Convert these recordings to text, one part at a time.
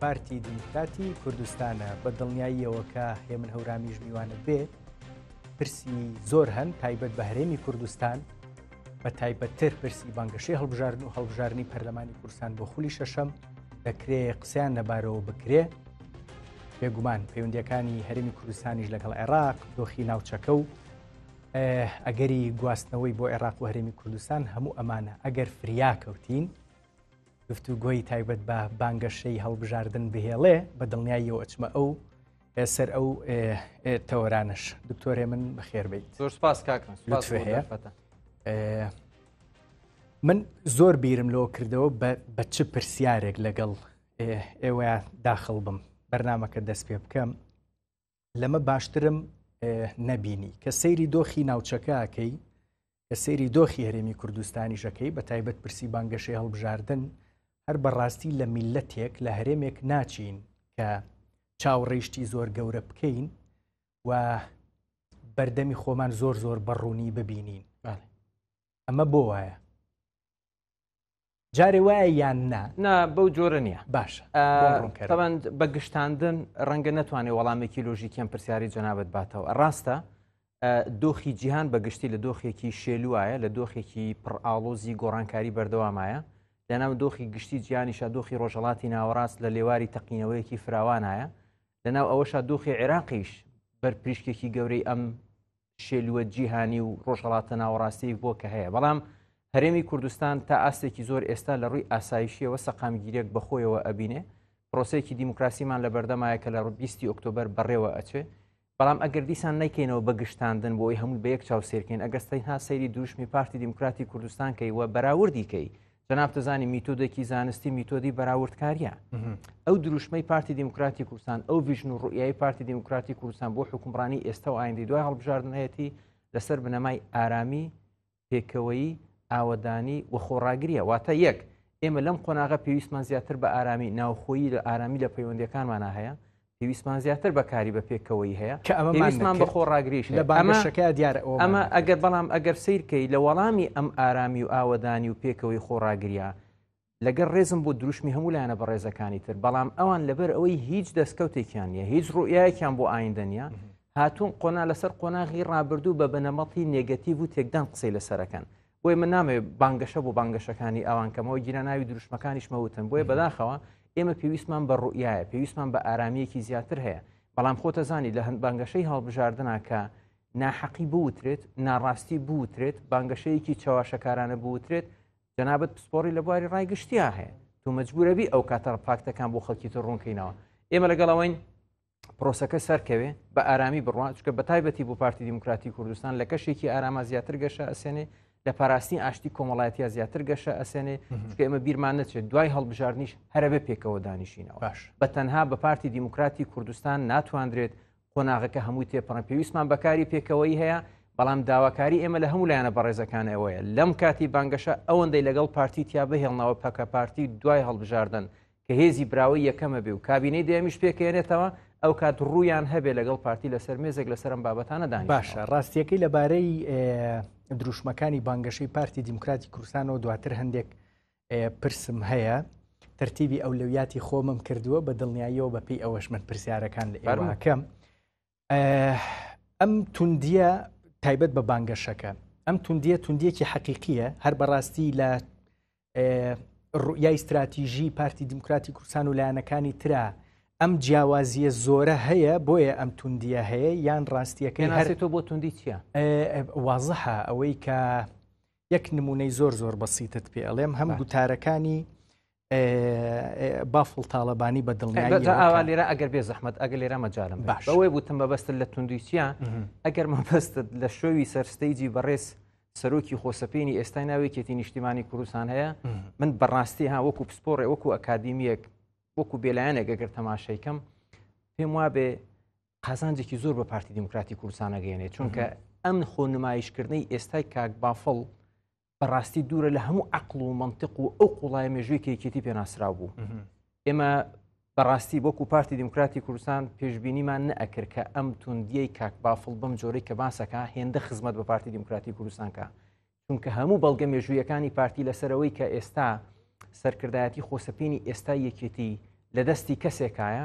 پارتی دیموکراتی کوردستانە بە دڵنیاییەوە کە هێمن هەورامیش میوانت بێ پرسی زۆر هەن تایبەت بە هەرێمی کوردستان بە تایبەتتر پرسی بانگەشەی هەڵبژاردن و هەڵبژارنی پەرلەمانی کورسان بۆ خولی شەشەم دەکرێ قسەیان لەبارەوە بکرێ بێگومان پەیوەندەکانی هەرمی کوردستانیش لەگەڵ عێراق دۆخی ناوچەکە و ئەگەری گواستنەوەی بۆ عێراق و هەرمی کوردستان هەموو ئەمانە ئەگەر فریاکەوتین گفتوگۆی تایبەت بە بانگەشەی هەڵبژاردن بهێڵێ بە دڵنیاییەوە ئەچمە ئەو سەر ئەو تەوەرانش دکتۆرێ من بەخێربیت زۆر سپاس کاکەس هەیە من زۆر بیرم لەوە کردەوە بە چ پرسیارێک لەگەڵ ئێوەیان داخڵ بم بەرنمەکە دەست پێ بکەم لەمە باشترم نەبینی کە سەیری دۆخی ناوچەکەکەی کە سەیری دۆخی هەرێمی کوردستانی ژەکەی بە تایبەت پرسی بانگەشەی هەڵبژاردن هەر بەڕاستی لە میلەتێک لە هەرێمێک ناچین کە چاوڕیشتی زۆر گەورە بکەین و بەردەمی خۆمان زۆر زۆر بەڕوونی ببینین ئەمە بۆ وایە جارێ وایە یان نا نا بەو جۆرە نییە باش تەوان بە گشتاندن ڕەنگە نتوانێت وەڵامێکی لۆژیکیان پرسیاری جەنابەت باتەوە ڕاستە دۆخی جیهان بەگشتی لە دۆخێکی شێلوایە لە دۆخێکی پڕئاڵۆزی گۆڕانکاری بەردەوامایە لەناو دۆخی گشتی جیانیشە دۆخی ڕۆژهڵاتی ناوەڕاست لە لێواری تەقینەوەیەکی فراوانایە لەناو ئەوەشە دۆخی عێراقیش بەرپریشکێکی گەورەی ئەم شێلووە جیهانی و ڕۆژهڵاتە ناوەڕاستەیەک بووە کە هەیە بەڵام هەرێمی کوردستان تا ئاستێکی زۆر ئێستا لە ڕووی ئاسایشیەوە سەقامگیرێک بەخۆیەوە ئەبینێ پرۆسەیەکی دیموکراسیمان لە بەردەمایە کە لە ڕبیستی ئۆکتۆبەر بەڕێوە ئەچێ بەڵام ئەگەر دیسان نیکەینەوە بەگشتاندن بۆی هەموو بە یەک چاو سێرکەین ئەگەستەین ها سەیری دروشمی پارتی دیموکراتی کوردستان کەی وە بەراوردی کەی جەناب دەزانی میتۆدێکی زانستی میتۆدی بەراوردکاریە ئەو دروشمەی پارتی دیموکراتی کوردستان ئەو ڤژن و ڕوئایی پارتی دیموکراتی کوردستان بۆ حکومڕانی ئێستا و ئایندی دوای هەڵبژاردنەتی لەسەر بنەمای ئارامی پێکەوەی ئاوەدانی و خۆڕاگریە واتە یەک ئێمە لەم قۆناغە پێویستمان زیاتر بە ئارامی ناوخۆیی لە ئارامی لە پەیوەندەکانمانە هەیە پێویستمان زیاتر بەکاری بە پێکەوەی هەیە کە ئەمە مەمان بە خۆڕاگریش لە بانگەشەکە دیارە ئەمە ئەگەر بەڵام ئەگەر سیرکەی لە وەڵامی ئەم ئارامی و ئاوەدانی و پێکەوەی خۆڕاگریا لەگەر ڕێزم بۆ دروشمی هەموو لایەنە بە ڕێزەکانی تر بەڵام ئەوان لەبەر ئەوەی هیچ دەستکەوتێکیان نیە هیچ ڕوئایەکیان بۆ ئایندەنیە هاتوون قۆنا لەسەر قۆناغی ڕابردوو بە بنەمەڵی نێگەتیڤ و تێکدان قسەی لەسەرەکەن بۆیە من نامەوێت بانگەشە بۆ بانگەشەکانی ئەوان کەمەوە گیرە ناوی دروشمەکانیشمە وتن بۆیە بەداخەوە ئێمە پێویستمان بە ڕوئایە پێویستمان بە ئارامیەکی زیاتر هەیە بەڵام خۆتە زانی لە هەند بانگەشەی هەڵبژاردننا کە ناحەقی بوترێت ناڕاستی بوترێت بانگەشەیەکی چاواشەکارانە بوترێت جەنابەت پسپۆری لە بواری ڕای گشتیا هەیە تو مەجبورەبی ئەو کاتەڕ پاکتەکان بۆ خەڵکی تر ڕوونکەینەوە ئێمە لەگەڵەوەین پرۆسەکە سەرکەوێ بە ئارامی بڕوان چکە بە تایبەتی بۆ پارتی دیموکراتی کوردستان لە کەشێکی ئاراما زیاتر گەشە ئەسێنێ لە پاراستنی ئاشتی کۆمەڵایەتیا زیاتر گەشە ئەسێنێ چکە ئمە بیرمان نەچێت دوای هەڵبژاردنیش هەرەبێ پێکەوە دانیشینەوە باش بە تەنها بە پارتی دیموکراتی کوردستان ناتواندرێت قۆناغەکە هەمووی تێپەڕە پێویستمان بەکاری پێکەوەی هەیە بەڵام داواکاری ئێمە لە هەموو لایەنە بەڕێزەکان ئەوەیە لەم کاتی بانگەشە ئەوەندەی لەگەڵ پارتی تیا بهێڵنەوە پەکە پارتی دوای هەڵبژاردن کە هێزی براوەی یەکەمە بێ و کابینەی دەیەمیش پێکەێنێتەوە، ئەو کات ڕوویان هەبێ لەگەڵ پارتی لەسەر مێزێک لەسەر ئەم بابەتانە دانیشن. باشە ڕاستیەکەی لەبارەی دروشمەکانی بانگەشەی پارتی دیموکراتی کوردستانەوە دواتر هەندێک پرسم هەیە تەرتیبی ئەولەویاتی خۆمم کردووە بە دڵنیاییەوە بەپی ئەوەش من پرسیارەکان لە ئەرماکەم ئەم توندیە تایبەت بە بانگەشەکە ئەم توندیە توندیەکی حەقیقیە هەر بەڕاستی لە ڕوئای استراتیژی پارتی دیموکراتی کوردستان و لایەنەکانی تررا ئەم جیاوازیە زۆرە هەیە بۆیە ئەم توندیە هەیە یان ڕاستیەکەی هەرێتۆ بۆ توندی چیە وازحە ئەوەی کە یەک نمونەی زۆر زۆر بەسیتت پێڵێم هەم گوتارەکانی بافڵ تاالبانی بە دڵنیاوا لێرە ئەگەر بێ زەحمت ئەگە لێرە مەجارم باش ئەوەی بوتم بەبستن لە توندویچە ئەگەر مەبست لە شووی سەرستەیجی بەڕێز سەرۆکی خۆسەپێنی ئێستای ناوێکێتی نیشتیمانی کوردستان هەیە من بەڕاستی ها وەکو پسپۆڕێ وەکو ئەکادمیەک وەکو بێلایەنێک گەگەر تەماشەیکەم پێم وابێ قازانجێکی زۆر بە پارتی دیموکراتی کوردستانەگەێنێت چونکە ئەم خۆ نمایشکردنی ئێستای کاک بافڵ بەڕاستی دوورە لە هەموو عقل و منطق و ئەو قوڵای مێژووی کەکێتی پێناسرااو بوو ئێمە بەڕاستی وەکو پارتی دیموکراتی کوردستان پێشببینیمان نەکرد کە ئەم توندیەی کاک بافڵ بم جۆرەی کە باسەکە هێندە خزمەت بە پارتی دیموکراتی کوردستانکە چونکە هەموو بەڵگە مێژوویەکانی پارتی لەسەرەوەی کە ئێستا سەرکردایەتی خۆسەپینی ئێستا یەکێتی لە دەستی کەسێکایە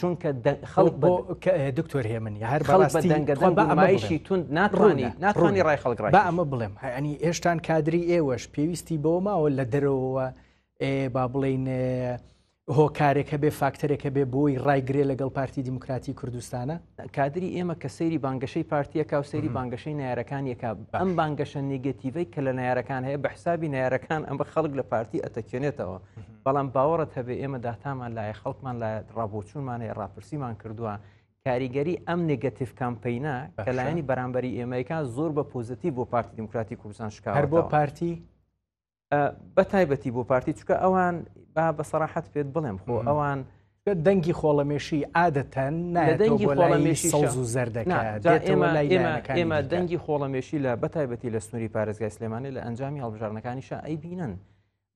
چونکە خەڵک بۆ دکتۆر هێمنی هەر بەڕاستیشی تون ناتوانانی ناتوانانی ڕای خەڵک بە ئەمە بڵێم هەنی هێشتان کادری ئێوەش پێویستی بۆ ماوە لە دەرەوە با بڵین هۆکارێکە بێ فاکتەرێکە بێ بۆی ڕایگرێ لەگەڵ پارتی دیموکراتی کوردستانە کادری ئێمە کە سەیری بانگەشەی پارتیەکە و سەیری بانگەشەی نارەکان یەکە ئەم بانگەشە نگەتیڤەی کە لە نارەکان هەیە بە حسابی نارەکان ئەمە خەڵک لە پارتی ئەتەکێنێتەوە بەڵام باوەڕت هەبێ ئێمە داتامان لایە خەڵکمان لە ڕابۆچوونمان هەیە ڕاپرسیمان کردووە کاریگەری ئەم نگەتیف کامپینە کەلایانی بەرامبەری ئێمەیکان زۆر بە پۆزیتیو بۆ پارتی دیموکراتی کوردستان شکار بۆ پارتی بە تایبەتی بۆ پارتی چکە ئەوان با بە سەراحەت پێت بڵێم خۆ ئەوان دەنگی خۆڵەمێشی عادەتەن نادەنگی خۆڵەمێشی سەوز و زەردەکەمە دەنگی خۆڵەمێشی لە بەتایبەتی لە سنووری پارێزگای سلێمانی لە ئەنجامی هەڵبژارنەکانیشە ئەی بینن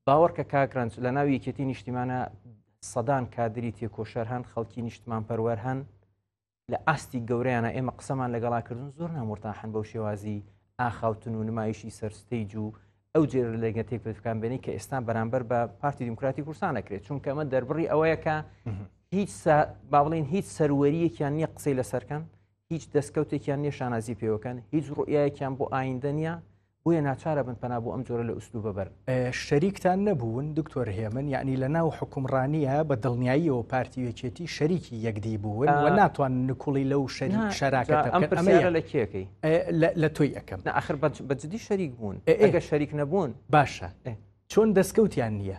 باوەڕکە کاک رەنج لە ناو یەکێتی نیشتیمانە سەدان کادری تێکۆشەر هەن خەڵکی نیشتمان پەروەەر هەن لە ئاستی گەوریانە ئێمە قسەمان لەگەڵاکردن زۆر نامرتاحن بەو شێوازی ئاخاوتن و نمایشی سەرستەیج و ئەو جێر لەگە تێکپکان بێنی کە ئێستا بەرامبەر بە پارتی دیموکراتی کورسان نەکرێت چونکە ئەمە دەربڕی ئەوەیەکە هیچ با بڵین هیچ سەروەریەکیان نییە قسەی لەسەرکەن هیچ دەستکەوتێکیان نیە شانازی پێوەکەن هیچ ڕوئایەکیان بۆ ئایندە نیە بۆیە ناچارە بن پەنا بۆ ئەم جۆرە لە ئوسلوبە بەرن شەریکتان نەبوون دکتۆر هێمن یعنی لە ناو حکومڕانیە بە دڵنیاییەوە پارتی وێچێتی شەریکی یەکدی بوون و ناتوان نکوڵی لەو شەری شەراکەتەکە ئەمە لە کێەکەی لە تۆی ئەەکەم ناخر بەجددی شەریک بوون ئەگە شەریک نەبوون باشە چۆن دەستکەوتیان نییە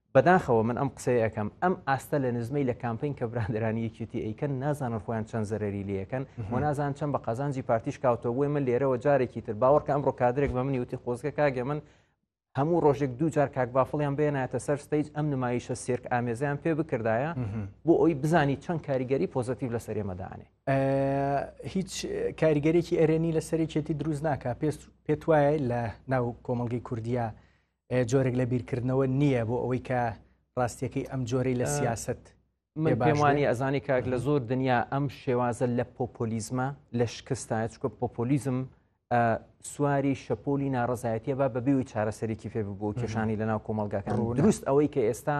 بەداخەوە من ئەم قسەی ئەکەم ئەم ئاستە لە نزمەی لە کامپین کە براندرانی یەکیتی ئەیکەن نازانن خۆیان چەند زەرری لەکەن و نازان چەند بە قازانجی پارتیش کاوتەوە بۆی من لێرەوە جارێکی تر باوەڕکە ئەمڕۆ کادرێک بە منی وتی خۆزگە کاگە من هەموو ڕۆژێک دوو جار کاک بافڵیان بێنایەتە سەر ستەیج ئەم نمایشە سێرک ئامێزیان پێ بکردایە بۆ ئەوی بزانی چەند کاریگەری پۆزتیو لە سەرێمەدانێ هیچ کاریگەرێکی ئەرێنی لە سەرێکێتی دروست ناکە پێست پێت وایە لە ناو کۆمەلگەی کوردیا جۆرێک لە بیرکردنەوە نییە بۆ ئەوەی کە ڕاستیەکەی ئەم جۆرەی لە سیاست من پێمانی ئەزانی کاک لە زۆر دنیا ئەم شێوازە لە پۆپۆلیزمە لە شکستایە چکە پۆپۆلیزم سواری شەپۆلی ناڕزایەتیە با بەبیەوەی چارەسەرێکی فێ ببوو کێشانی لە ناو کۆمەلگاکان دروست ئەوەی کە ئێستا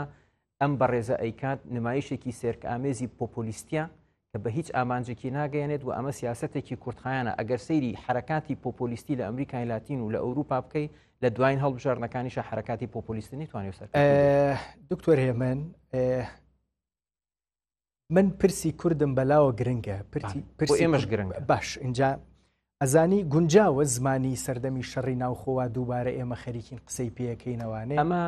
ئەم بەڕێزە ئەیکات نمایشێکی سێرک ئامێزی پۆپۆلیستە کە بە هیچ ئامانجێکی ناگەیەنێت و ئەمە سیاستێکی کورتخایانە ئەگەر سەیری حرکاتی پۆپۆلیستی لە ئەمریکای لاتین و لە ئەوروپا بکەی لە دوایین هەڵبژاردنەکانیشە حرکاتی پۆپۆلیستنی توانێت سەر دکتۆر هێمن من پرسی کوردم بەلاوە گرنگە پرسی ئێمەش گرنگ باش اینجا ئەزانی گونجاوە زمانی سەردەمی شەڕی ناوخۆوە دووبارە ئێمە خەریکین قسەی پێەکەینەوانێ ئەمە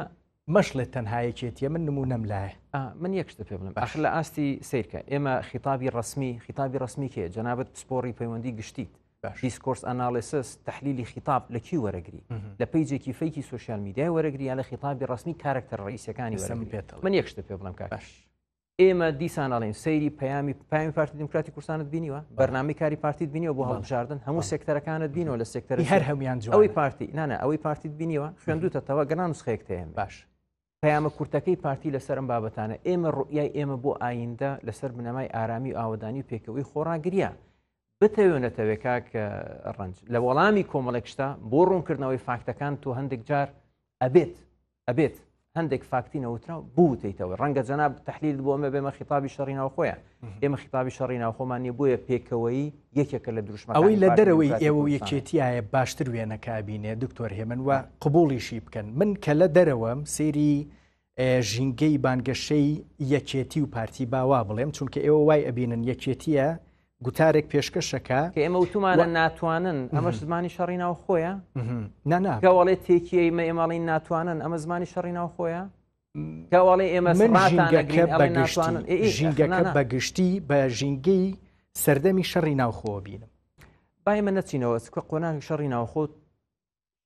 مەشڵێت تەنهایەکێتیە من نمو نەم لایە من یەکشتە پێ بڵم ئەخ لە ئاستی سیرکە ئێمە خیتابی ڕسمی خیتابی ڕسمی کێ جەنابەت پسپۆری پەیوەندی گشتیت دیسکۆرس ئەناالسس تحلیلی خیتاب لە کی وەرەگری لە پیجێکی فەیکی سوسیال میدیای وەرەگریان لە خیتابی ڕسمی کارکتەر ڕئیسەکانی سەم پێێت من یەکشتە پێ بڵم کاش ئێمە دیسان ئەڵین سەیری پەیامی پامی پارتی دموکراتی کوردستانت بینیوە بەرنامی کاری پارتیت بینیەوە بۆ هەڵبژاردن هەموو سێکتەرەکانت بینەوە لە سێکتەر هەر هەمویان ئەوەی پارتی نانە ئەوەی پارتیت بینیوە خوێندوتەتەوە گەنان نسخەیەک تێن باش پەیامە کورتەکەی پارتی لەسەر ئەم بابەتانە ئێمە ڕوئای ئێمە بۆ ئایندە لەسەر بنەمای ئارامی و ئاوادانی و پێکەوەی خۆراگرە بتەوێ نەتەوێ کاک ڕنج لە وەڵامی کۆمەڵێک شتا بۆ ڕوونکردنەوەی فاکتەکان تۆ هەندێک جار ئەبێت ئەبێت هەندێک فاکتی نەوترا بوتیتەوە ڕەنگە جەناب تحلیل بۆ ئەمە بێمە خیتابی شەڕی ناوخۆیان ئێمە خیتابی شەڕی ناوخۆمان نیە بۆیە پێکەوەی یەکێکە لە دروشمە ئەوەی لە دەرەوەی ئێوە یەکێتیایە باشتر وێنەکبینێ دکتۆر هێمن وە قبولیشی بکەن من کە لە دەرەوەم سێری ژینگەی بانگەشەی یەکێتی و پارتی با وا بڵێم چونکە ئێوە وای ئەبینن یەکێتیە گوتارێک پێشکەشەکە کە ئێمە وتومانە ناتوانن ئەمەش زمانی شەڕی ناو خۆیە ناناگەوەڵێ تێکیە ئمە ئێمەڵین ناتوانن ئەمە زمانی شەڕی ناو خۆیە گەوەڵێ ئێمە ژینگەکە بەگشتی بە ژینگەی سەردەمی شەڕی ناوخۆ بینم بای من نەچینەوە سکە قۆناغی شەڕی ناوخۆت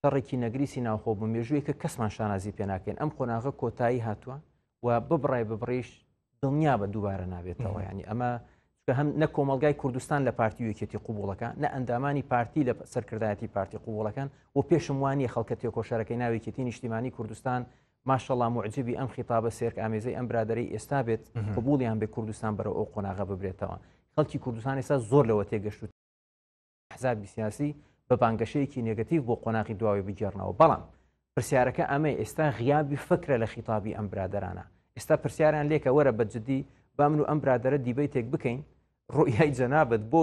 شەڕێکی نەگریسی ناوخۆ بوو مێژووی کە کەسمان شانازی پێ ناکەین ئەم قۆناغە کۆتایی هاتووە و ببڕای ببڕیش دڵنیا بە دووبارە نابێتەوە ینی ئەمە هەم نە کۆمەلگای کوردستان لە پارتی وکێتی قوبوڵەکە نە ئەندامانی پارتی لە سەرکردایەتی پارتی قوبوڵەکان و پێشم وانە خەڵکە تێکۆشەرەکەی ناوێکێتی نیشتیمانی کوردستان ماشەڵام معجببی ئەم خیتابە سێرک ئامێزەی ئەم برادری ئێستا بێت قوبولیان بێ کوردستان بەرە ئەو قۆناغە ببرێتەوە خەڵکی کوردستان ێستا زۆر لەوە تێگەشت ئەحزابی سیاسی بە بانگەشەیەکی نێگەتیڤ بۆ قۆناغی دواوەی بگێڕنەوە بەڵام پرسیارەکە ئەمەی ئێستا غیابی فکرە لە خیتابی ئەم برادرانە ئێستا پرسیاریان لێکە وەرە بە جددی با من و ئەم برادرە دیبیتێک بکەین ڕوئای جەنابەت بۆ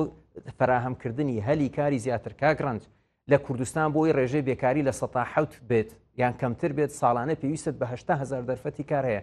فراهەمکردنی هەلی کاری زیاتر کاگرنج لە کوردستان بۆی ڕێژەی بێکاری لە سەتا حوت بێت یان کەمتر بێت ساڵانە پێویست بەهشتا هزار دەرفەتی کار هەیە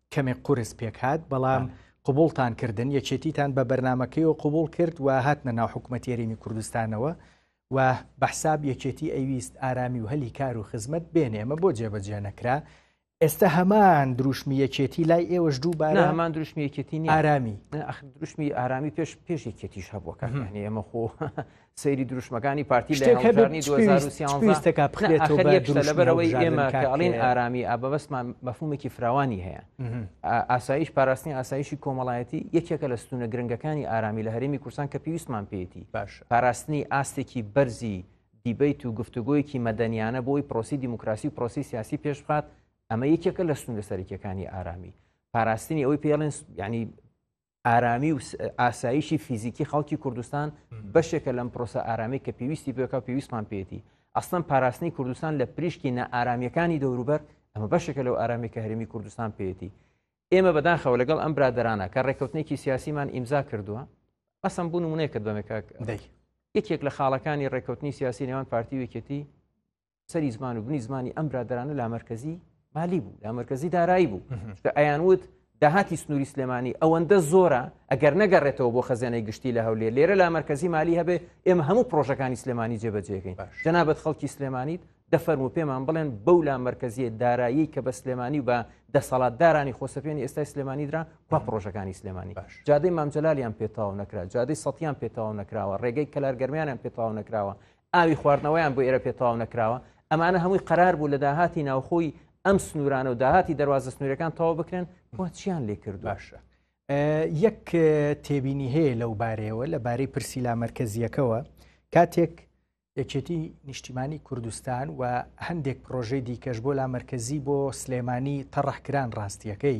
کەمێک قورس پێکهات بەڵام قوبوڵتان کردن یەکێتیتان بە بەرنمەکەی و قوبول کرد و هاتنە ناو حکوومەت یاریمی کوردستانەوە و بەحساب یەکێتی ئەویست ئارامی و هەلی کار و خزمەت بێنێ ئەمە بۆ جێبەجێ نەکرا ئێستا هەمان دروشمی یەکێتی لای ئێوەش دووبارە هەمان دروشمی یەکێتی ئارامی دروشمی ئارامی پێش پێش یەکێتیش هەبووەکان هەنی ئەمە خۆ سەیری دروشمەکانی پارتی لە هەڵبژاردنی 2013 لەبەرەوەی ئێمە کە ئەڵین ئارامی ئابەبەستمان مەفهومێکی فراوانی هەیە ئاسایش پاراستنی ئاسایشی کۆمەڵایەتی یەکێکە لە ستونە گرنگەکانی ئارامی لە هەرێمی کوردستان کە پێویستمان پێێتی باش پاراستنی ئاستێکی بەرزی دیبیت و گفتوگۆیەکی مەدەنیانە بۆی پرۆسی دیموکراسی و پرۆسی سیاسی پێش بخات ئەمە یەکێکە لە سونە سەرکیەکانی ئارامی پاراستنی ئەوەی پێڵێن ینی ئارامی و ئاسایشی فیزیکی خەڵکی کوردستان بەشێکە لەم پرۆسە ئارامی کە پێویستی پێکا پێویستمان پێێتی ئەسڵەن پاراستنی کوردستان لە پریشکی نائارامیەکانی دەوروبەر ئەمە بەشێکە لەو ئارامی کە هەرمی کوردستان پێێتی ئێمە بەداخەوە لەگەڵ ئەم برادرانە کە ڕێککەوتنێکی سیاسیمان ئیمزا کردووە ئەسم بوون منێکت بەمێکاک یەکێک لە خاڵەکانی ڕێککەوتنی سیاسی نێوان پارتی وکێتی سەری زمان و بنی زمانی ئەم برادرانە لامەرکزی مالی بوو لامەرکزی دارایی بوو کە ئەیان وت داهاتی سنووری سلێمانی ئەوەندە زۆرە ئەگەر نەگەڕێتەوە بۆ خەزیێنەی گشتی لە هەولێر لێرە لا مرکزی مالی هەبێ ئێمە هەموو پرۆژەکانی سلێمانی جێبەجێگەین جەنابەت خەڵکی سلێمانیت دەفەرم و پێمان بڵێن بەو لا مرکزیە دارایی کە بە سلێمانی و بە دەسەڵات دارانی خۆسەپێنی ئێستای سلێمانی درا کو پرۆژەکانی سلێمانی جادەی مامجلالیان پێتاو نەکرا جادەی سەیان پێتاو نەکراوە ڕێگەی کەلارگەرمیانیان پێتاو نەکراوە ئاوی خواردنەوەیان بۆ ئێرە پێ تەواو نەکراوە ئەمانە هەمووی قەرار بوو لە داهاتی ناوخۆی ئەم سنوورانە و داهاتی دەواازە سنوورەکان تەواو بکرێن بۆ چیان لێ کرد باشە یەک تێبینی هەیە لەو بارەیەوە لە بارەی پرسی لا مرکزیەکەوە کاتێک یەکێتی نیشتیمانی کوردستان و هەندێک پرۆژەی دیکەش بۆ لا مرکزی بۆ سلێمانی تەڕحکران ڕاستیەکەی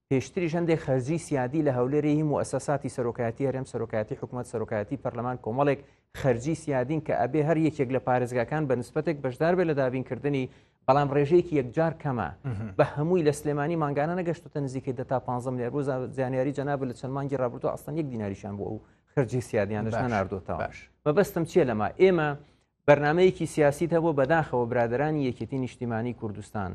پێشتریش هەندێک خەرجی سیادی لە هەولێری هی موسەساتی سەرۆکایەتی هەرێم سەرۆکایەتی حکوومەت سەرۆکایەتی پەرلەمان کۆمەڵێک خەرجی سیادین کە ئەبێ هەر یەکێک لە پارێزگاکان بە نسبەتێک بەشدار بێت لە دابینکردنی بەڵام ڕێژەیەکی یەکجار کەمە بە هەمووی لە سلێمانی مانگانە نەگەشتە نزیکەی دە تا 15 لێر بۆ زانیاری جەناب لە چەند مانگی ڕابردو ئاستان یەک دیناریشان بۆ ئەو خرجی سیادیانش ناردۆتەوە مەبەستم چیە لەما ئێمە بەرنمەیەکی سیاسیت هەبوو بەداخەوە برادرانی یەکێتی نیشتیمانی کوردستان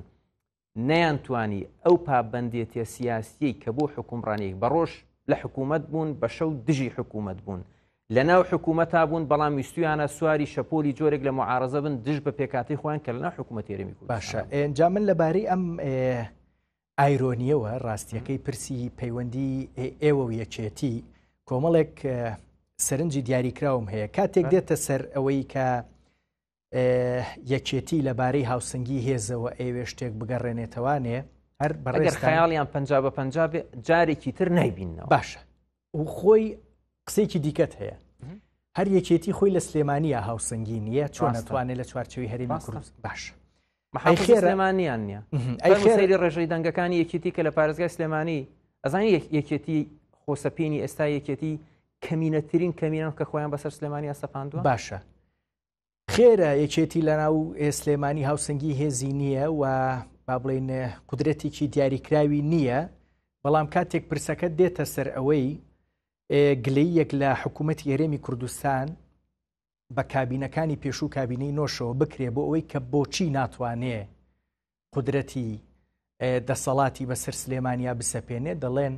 نەیانتوانی ئەو پابەندێتیە سیاسیەی کە بۆ حکومڕانیەک بە ڕۆژ لە حکوومەت بوون بە شەو دژی حکوومەت بوون لە ناو حکوومەتا بوون بەڵام ویستویانە سواری شەپۆلی جۆرێک لە معارزە بن دژ بە پێکاتی خۆیان کە لەنا حکوومەت تێرەمی کو باشە ئەجا من لەبارەی ئەم ئایرۆنیەوە ڕاستیەکەی پرسی پەیوەندی ئێوە یەکێتی کۆمەڵێک سەرنجی دیاریکراوم هەیە کاتێک دێتە سەر ئەوەی کە یەکێتی لە بارەی هاوسنگی هێزەوە ئەوێ شتێک بگەڕێنێتەوانێ هەر بەڕێگەر خەیاڵیان پ بە پ جارێکی تر نایبینەوە باشە و خۆی قسێکی دیکەت هەیە هەر یەکێتی خۆی لە سلێمانیا هاوسنگی نییە چۆن ناتوانێت لە چوارچەوی هەرێمی کوردس باش خێرەمانیان نییە ئەی خێری ڕێژەی دەنگەکانی یەکێتی کە لە پارێزگای سلێمانی ئەزانی یەکێتی خۆسەپینی ئێستا یەکێتی کەمینەترین کەمینان کە خۆیان بەسەر سلێمانی ئەسەپاندوە باشە خێرە یەکێتی لە ناو سلێمانی هاوسەنگی هێزی نییە و با بڵێن قدرەتێکی دیاریکراوی نییە بەڵام کاتێک پرسەکە دێتە سەر ئەوەی گلەی یەک لە حکوومەت یێرێمی کوردستان بە کابینەکانی پێشوو کابینەی نۆشەوە بکرێ بۆ ئەوەی کە بۆچی ناتوانێ قدرەتی دەسەڵاتی بەسەر سلێمانیا بسەپێنێ دەڵێن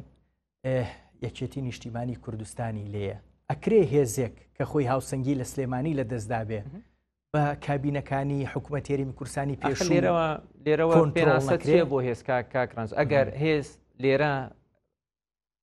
یەکێتی نیشتیمانی کوردستانی لێە ئەکرێ هێزێک کە خۆی هاوسەنگی لە سلێمانی لە دەستدابێ بە کابینەکانی حکوومەتێری کورسانی پێش لێرەوە لێرەوە پێناسەکرێ بۆ هێزکا کاکرانس ئەگەر هێز لێرە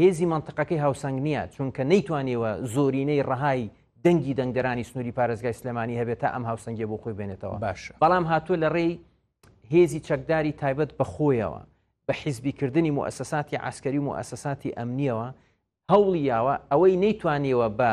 هێزی مەنتقەکەی هاوسەنگ نییە چونکە نەیتوانیەوە زۆرینەی ڕەهای دەنگی دەنگدەرانی سنووری پارێزگای سلێمانی هەبێت تا ئەم هاوسەنگی بۆ خۆی بێنێتەوە باش بەڵام هاتووە لە ڕێی هێزی چەکداری تایبەت بەخۆیەوە بە حیزبیکردنی موسەساتی عسکەری و موسەساتی ئەمنیەوە هەوڵی یاوە ئەوەی نەیتوانیەوە بە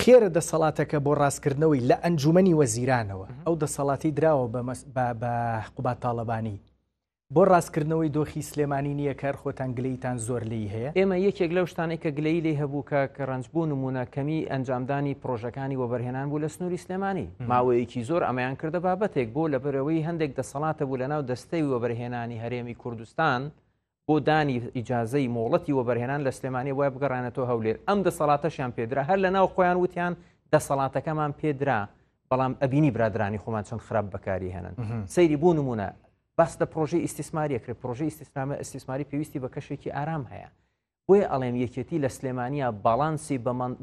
خێرە دەسەڵاتەکە بۆ ڕاستکردنەوەی لە ئەنجومنی وەزیرانەوە ئەو دەسەڵاتی دراوە بە قوبات تاالبانی بۆ ڕاستکردنەوەی دۆخی سلێمانی نییە کار خۆتان گلیتان زۆر لی هەیە ئێمە یەکێک لەو شتانەی کە گلەی لی هەبوو کە کە ڕنجبوو نمونە کەمی ئەنجامدانی پرۆژەکانی وەبەرهێنان بوو لە سنووری سلێمانی ماوەیەکی زۆر ئەمەیان کردە بابەتێک بۆ لە بەرەوەی هەندێک دەسەڵاتە بوو لە ناو دەستەوی وەبەرهێنانی هەرێمی کوردستان بۆ دانی ئیجازەی مۆڵەتی وەبەرهێنان لە سلێمانی وای بگەڕانێتەوە هەولێر ئەم دەسەڵاتەشیان پێدرا هەر لە ناو خۆیان وتیان دەسەڵاتەکەمان پێدرا بەڵام ئەبینی برادرانی خۆمان چەند خراپ بەکاری هێنن سەیری بوو نمونە باس لە پرۆژی ئیسیسماریە کرد پرۆژی ئیسیسنامە ئەسیسماری پێویستی بە کەشێکی ئارام هەیە بۆیە ئەڵێم یەکێتی لە سلێمانیا باڵانسی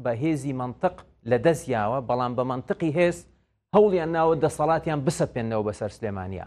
بە هێزی منطق لە دەست یاوە بەڵام بە منطقی هێز هەوڵیان ناوە دەسەڵاتیان بسەپێنەوە بەسەر سلێمانیا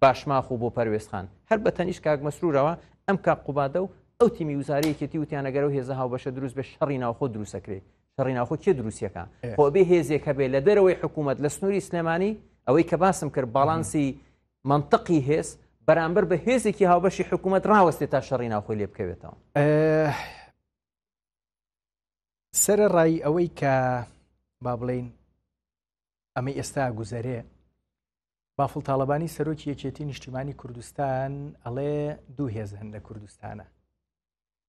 باشماخ و بۆ پەروێز خان هەر بە تەنیشت کاک مەسرورەوە ئەم کاک قوبادە و ئەو تیمی وزاری یەکێتی وتیان ئەگەر ئەو هێزە هاوبەشە دروست بێ شەڕی ناوخۆ دروست ئەکرێ شەڕی ناوخۆ کێ دروستیەکە خۆ بێ هێزێک هەبێ لە دەرەوەی حکوومەت لە سنووری سلێمانی ئەوەی کە باسم کرد باڵانسی منطقی هێز بەرامبەر بە هێزێکی هاوبەشی حکوومەت ڕاوەستێت تا شەڕی ناوخۆی لێ بکەوێتەوە سرە ڕای ئەوەی کە با بڵین ئەمە ئێستا گوزەرێ بافڵ تاڵەبانی سەرۆکی یەکێتی نیشتیمانی کوردستان ئەڵێ دوو هێز هەن لە کوردستانە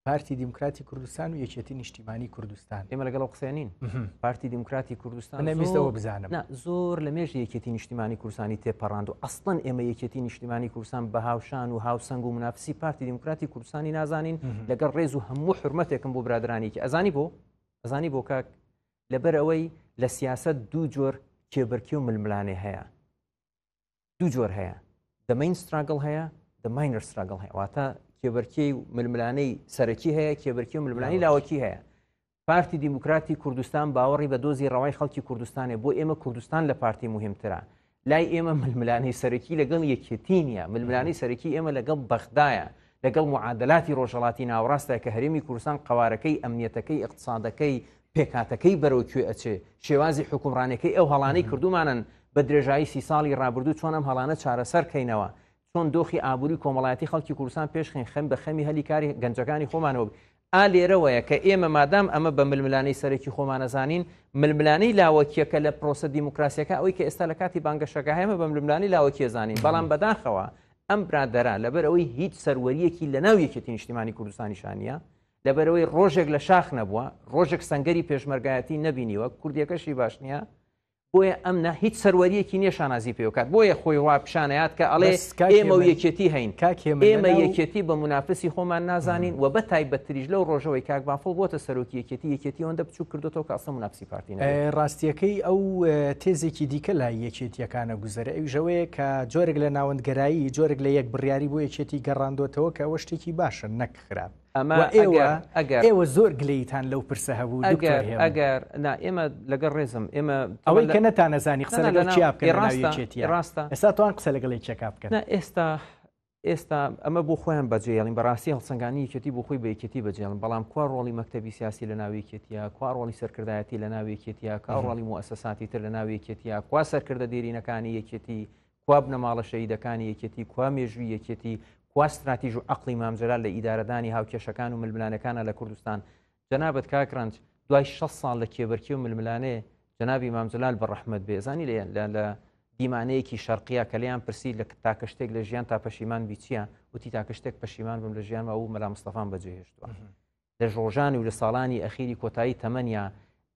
پارتی دیموکراتی کوردستان و یەکێتی نیشتیمانی کوردستان ئێمە لەگەڵ قسەێنین پارتی دیموکراتی کوردستان نەویستەوە بزانم زۆر لە مێژ یەکێتی نیشتیمانی کوردستانی تێپەڕاند و ئەستن ئێمە یەکێتی نیشتیمانی کوردستان بە هاوشان و هاوسنگ و منافسی پارتی دیموکراتی کوردستانی نازانین لەگەڵ ڕێز و هەموو حرمەتێکم بۆ برادرانێکی ئەزانی بۆ ئەزانی بۆ کاک لەبەر ئەوەی لە سیاسەت دوو جۆر کێبەرکی و ململانێ هەیە دوو جۆر هەیە دەمەین ستراگڵ هەیە دەماینەر ستراگڵ هەیە واتە کێبەرکی و ململانەی سەرەکی هەیە کێبەرکی و ململانی لاوەکی هەیە پارتی دیموکراتی کوردستان باوەڕی بە دۆزی ڕەوای خەڵکی کوردستانێ بۆ ئێمە کوردستان لە پارتی مهمترە لای ئێمە ململانەی سەرەکی لەگەڵ یەکێتی نیە ململانەی سەرەکی ئێمە لەگەڵ بەغدایە لەگەڵ معادلاتی ڕۆژهڵاتی ناوڕاستە کە هەرێمی کوردستان قوارەکەی ئەمنیەتەکەی اقتصادەکەی پێکاتەکەی بەرەو کوێ ئەچێ شێوازی حکومڕانەکەی ئەو هەڵانەی کردومانن بە درێژایی سی ساڵی ڕابردوو چۆن ئەم هەڵانە چارەسەرکەینەوە چۆن دۆخی ئابووری کۆمەڵایەتی خەڵکی کوردستان پێش خین خەم بە خەمی هەلی کاری گەنجەکانی خۆمانەوە ئا لێرەوەیە کە ئێمە مادام ئەمە بە ململانەی سەرەکی خۆمانەزانین ململانەی لاوەکیەکە لە پرۆسە دیموکراسیەکە ئەوی کە ئێستا لە کاتی بانگەشەکە هەمە بە ململانی لاوەکیە زانین بەڵام بەداخەوە ئەم برادرا لەبەر ئەوەی هیچ سەروەریەکی لە ناو یەکێتی نیشتیمانی کوردستانی شانە لەبەرەوەی ڕۆژێک لە شاخ نەبووە ڕۆژێک سنگەری پێشمەرگایەتی نەبینیوە کوردیەکەشی باش نییە بۆیە ئەم نا هیچ سەروەریەکی نیە شانازی پێوکات بۆیە خۆی وا پیشانەیات کە ئەڵێ ئێمە و یەکێتی هەین ئێمە یەکێتی بە منافسی خۆمان نازانین و بە تایبەتریش لەو ڕۆژەوەی کاک بافڵ بۆتە سەرۆکی یەکێتی یەکێتی ئەوەندە بچوو کردوەوە کاسە منافسی پارتی ڕاستیەکەی ئەو تێزێکی دیکە لای یەکێتیەکانە گوزەرە ئەو ژەوەیە کە جۆرێک لە ناوەندگەرایی جۆرێک لە یەک بڕیاری بۆ یەکێتی گەڕاندۆتەوە کە ئەوە شتێکی باشە نەک خراپ ئەمە ئێوە ئەگەر ئێوە زۆر گلەیتان لەو پرسە هەبوو دکتۆر هێمن ئەگەر نا ئێمە لەگەڵ ڕێزم ئێمە ئەوەی کە نەتانەزانی قسە لەگەڵ چیا بکەن لە ناوی یەکێتییە ڕاستە ئێستاتوان قسە لەگەڵ یەکێکا بکەن نا ئێستا ئێستا ئەمە بۆ خۆیان بەجێڵین بەڕاستی هەڵسەنگانی یەکێتی بۆ خۆی بە یەکێتی بەجێڵن بەڵام کوا ڕۆڵی مەکتتەبی سیاسی لە ناوێکێتیە کوا ڕۆڵی سەرکردایەتی لە ناوێکێتیە کا ڕۆڵی موسەساتی تر لە ناوێکێتیە کوا سەرکردە دێرینەکانی یەکێتی کوا بنەماڵە شەهیدەکانی یەکێتی، کوا مێژووی یەکێتی، کوا ستراتیژ و عەقڵی مام جەلال لە ئیدارەدانی هاوکێشەکان و ململانێکانە لە کوردستان؟ جەنابت کاک رەنج دوای شەست ساڵ لە کێبەرکێ و ململانێ جەنابی مام جەلال بە رەحمەت بێ زانی لێ لە لە دیمانەیەکی شەرقیە کە لێیان پرسی لە تاکە شتێک لە ژیان تا پەشیمان بیچیە وتی تاکە شتێک پەشیمان بم لە ژیانەوە و مەلا مستەفام بەجێهێشتووە لە ژۆژانی و لە ساڵانی ئەخیری کۆتایی تەمەنیا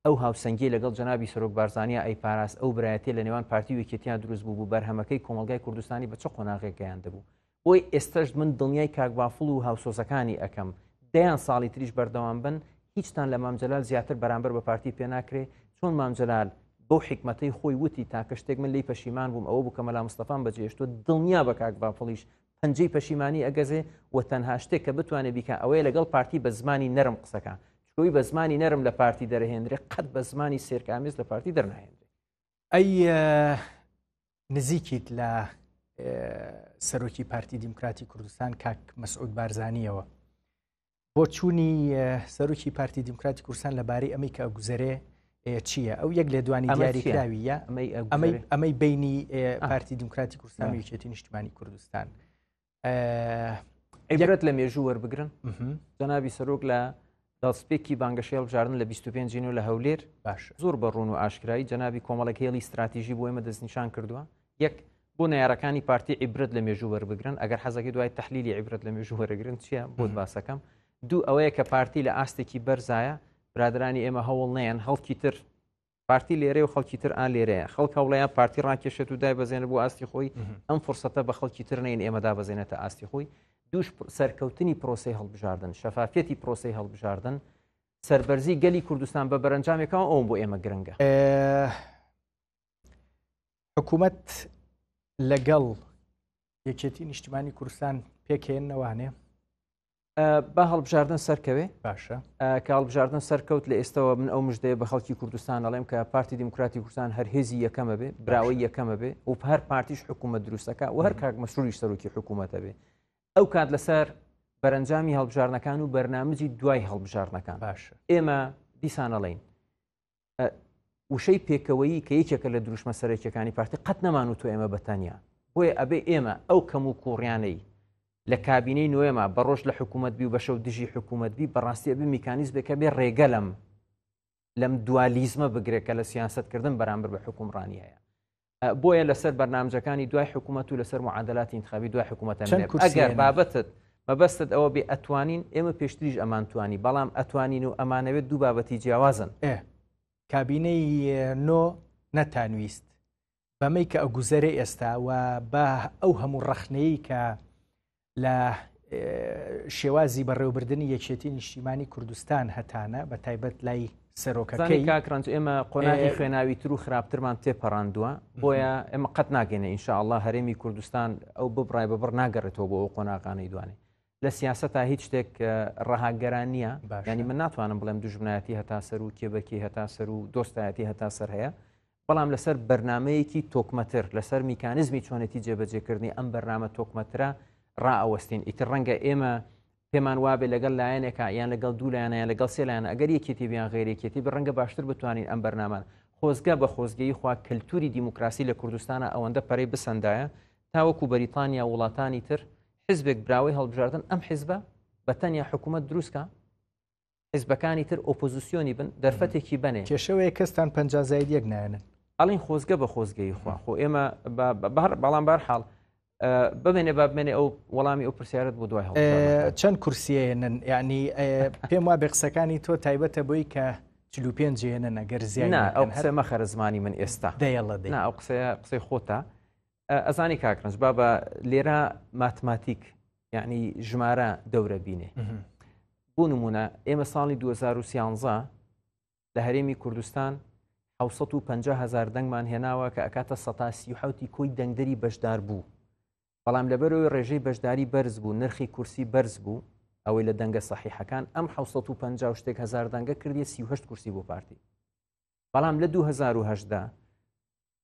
ئەو هاوسەنگیەی لەگەڵ جەنابی سەرۆک بارزانیا ئەیپاراست، ئەو برایەتیە لە نێوان پارتی و یەکێتیا دروست بووبوو، بەرهەمەکەی کۆمەڵگای کوردستانی بە چ قۆناغێک گەیاندبوو. بۆی ئێستەش من دڵنیای کاک بافڵ و هاوسۆزەکانی ئەکەم، دەیان ساڵی تریش بەردەوام بن، هیچتان لە مام جەلال زیاتر بەرامبەر بە پارتی پێ ناکرێ، چۆن مام جەلال بەو حیکمەتەی خۆی وتی تاکە شتێک من لێی پەشیمان بووم ئەوە بوو کە مەلا مستەفام بەجێهێشتووە، دڵنیابە کاک بافڵیش پەنجەی پەشیمانی ئەگەزێ و تەنها شتێک کە بتوانێت بیکە ئەوەیە لەگەڵ پارتی بە زمانی نەرم قسەکە چکۆی بە زمانی نەرم لە پارتی دەرهێنرێ قەت بە زمانی سێرکامیز لە پارتی دەرناهێنرێ ئەی نزیکیت لە سەرۆکی پارتی دیموکراتی کوردستان کاک مەسعود بارزانانیەوە بۆچوونی سەرۆکی پارتی دیموکراتی کورسان لەبارەی ئەمەی کە گوزەرێ چییە ئەو یەک لێدوانی دیاریکراویە ئەمەی بینی پارتی دیموکراتی کورسان وچێتی نیشتمانی کوردستان عیبرەت لە مێژوو وەربگرن جەنابی سەرۆک لە دەستپێکی بانگەشێڵ بژاردن لە 25 جینو لە هەولێر باش زۆر بە ڕون و ئاشکرایی جەنابی کۆمەڵێک هێڵی استراتیژی بۆ ئمە دەستنیشان کردووە یەک بۆ نارەکانی پارتی عیبرەت لە مێژوو وەربگرن ئەگەر حەزەکە دوای تحلیلی عیبرەت لە مێژوو وەرەگرن چیە بۆ باسەکەم دوو ئەوەیە کە پارتی لە ئاستێکی بەرزایە برادرانی ئێمە هەوڵ نیان هەڵکی تر پارتی لێرە و خەڵکی تر ئا لێرەیە خەڵک هەوڵەیە پارتی ڕاکێشێت و دای بەزێنە بۆ ئاستی خۆی ئەم فرسەتە بە خەڵکی تر نین ئێمەدا بەزێنێتە ئاستی خۆی دوش سەرکەوتنی پرۆسی هەڵبژاردن شەفافەتی پرۆسی هەڵبژاردن سربەرزی گەلی کوردستان بە بەرەنجامێکەوە ئەوم بۆ ئێمە گرنگە حکوومەت لەگەڵ یەکێتی نیشتمانی کوردستان پێکێن نەوانێ بە هەڵبژاردن سەرکەوێ باشە کە هەڵبژاردن سەرکەوت لە ئێستەوە من ئەو مژدەیە بە خەڵکی کوردستان ئەڵێم کە پارتی دیموکراتی کوردستان هەر هێزی یەکەمە بێ براوەی یەکەمە بێ و هەر پارتیش حکوومەت دروستەکە و هەر کاک مەسروریش سەرۆکی حکوومەتە بێ ئەو کات لەسەر بەرەنجامی هەڵبژارنەکان و بەرنمەزی دوای هەڵبژارنەکان باشە ئێمە دیسانەڵین وشەی پێکەوەیی کە یەکێکە لە دروشمە سەرەکیەکانی پارتی قەت نەمان و تو ئێمە بەتانیا بۆیە ئەبێ ئێمە ئەو کەم و کوڕیانەی لە کابینەی نوێما بە ڕۆژ لە حکوومەت بی و بەشە و دژی حکوومەت بی بەڕاستیە بی میکانیز بێکە بێ ڕێگەلم لەم دوالیزمە بگرێت کە لە سیاستکردن بەرامبەر بە حکومڕانیەیە بۆیە لەسەر بەرنامجەکانی دوای حکوومەت و لەسەر معادلاتی انتخابی دوای حکوومەتە ئەگەر بابەتت مەبەستت ئەوە بێ ئەتوانین ئێمە پێشتریش ئەمانتوانی بەڵام ئەتوانین و ئەمانەوێت دوو بابەتی جیاوازن ئێ کابینەی نۆ نەتانویست بەمەی کە ئەگوزەرە ئێستا و بە ئەو هەموو ڕەخنەیە کە لە شێوازی بەڕێوبردننی یەکێتی نیشتیمانی کوردستان هەتانە بە تایبەت لای سەرۆکەکەی کاکرانج ئێمە قۆناغی خوێناوی تر و خراپترمان تێپەڕاندووە بۆیە ئێمە قەت ناگەێنە ئینشاءله هەرێمی کوردستان ئەو ببڕای بەبڕ ناگەڕێتەوە بۆ ئەو قۆناغانەی دوانێ لە سیاست تا هیچ شتێک ڕەهاگەران نییە ینی من ناتوانم بڵێم دژمنایەتی هەتا سەر و کێبەکی هەتا سەر و دۆستایەتی هەتا سەر هەیە بەڵام لەسەر بەرنامەیەکی تۆکمەتر لەسەر میکانزمی چۆنێتی جێبەجێکردنی ئەم بەرنامە تۆکمەترە ڕائەوەستین ئیتر ڕەنگە ئێمە پێمان وابێ لەگەڵ لایەنێکە یان لەگەڵ دوو لایەنە لەگەڵ سێ لایەن ئەگەر یەکێتی بیان غێرێکێتی بە ڕەنگە باشتر بتوانین ئەم بەرنامان خۆزگە بە خۆزگەی خوا کەلتوری دیموکراسی لە کوردستانە ئەوەندە پەرەی بسەندایە تاوەکو بەریتانیا وڵاتانی تر حزبێک براوەی هەڵبژاردن ئەم حزبە بە تەنیا حکوومەت دروستکە حزبەکانی تر ئۆپۆزیسیۆنی بن دەرفەتێکی بنێ کێشەوەی کەستان پ زاید یەک نایەنن ئەڵین خۆزگە بە خۆزگەی خوا خۆ ئێمە بەڵام بار حاڵ بمێنێ با بمێنێ ئەو وەڵامی ئەو پرسیارت بۆ دوای چەند کورسیێنن یعنی پێم وا بێ قسەکانی تۆ تایبەتە بۆی کە چلو پێنجێنە نەگەر زیان ئەو قسە مەخەرە زمانی من ئێستا دەیڵە ئەو قسەیە قسەی خۆتە ئەزانی کاکرنج با بە لێرە ماتماتیک یعنی ژمارە دەورە بینێ بۆ نمونە ئێمە ساڵی 2013 لە هەرێمی کوردستان 550 هزار دەنگمان هێناوە کە ئەکاتە سەتاسی حوتی کۆی دەنگدەری بەشدار بوو بەڵام لەبەرەوەی ڕێژەی بەشداری بەرز بوو نرخی کورسی بەرز بوو ئەوەی لە دەنگە سەحیحەکان ئەم 1950 شتێک هزار دەنگە کردی 38 کورسی بۆ پارتی بەڵام لە 2010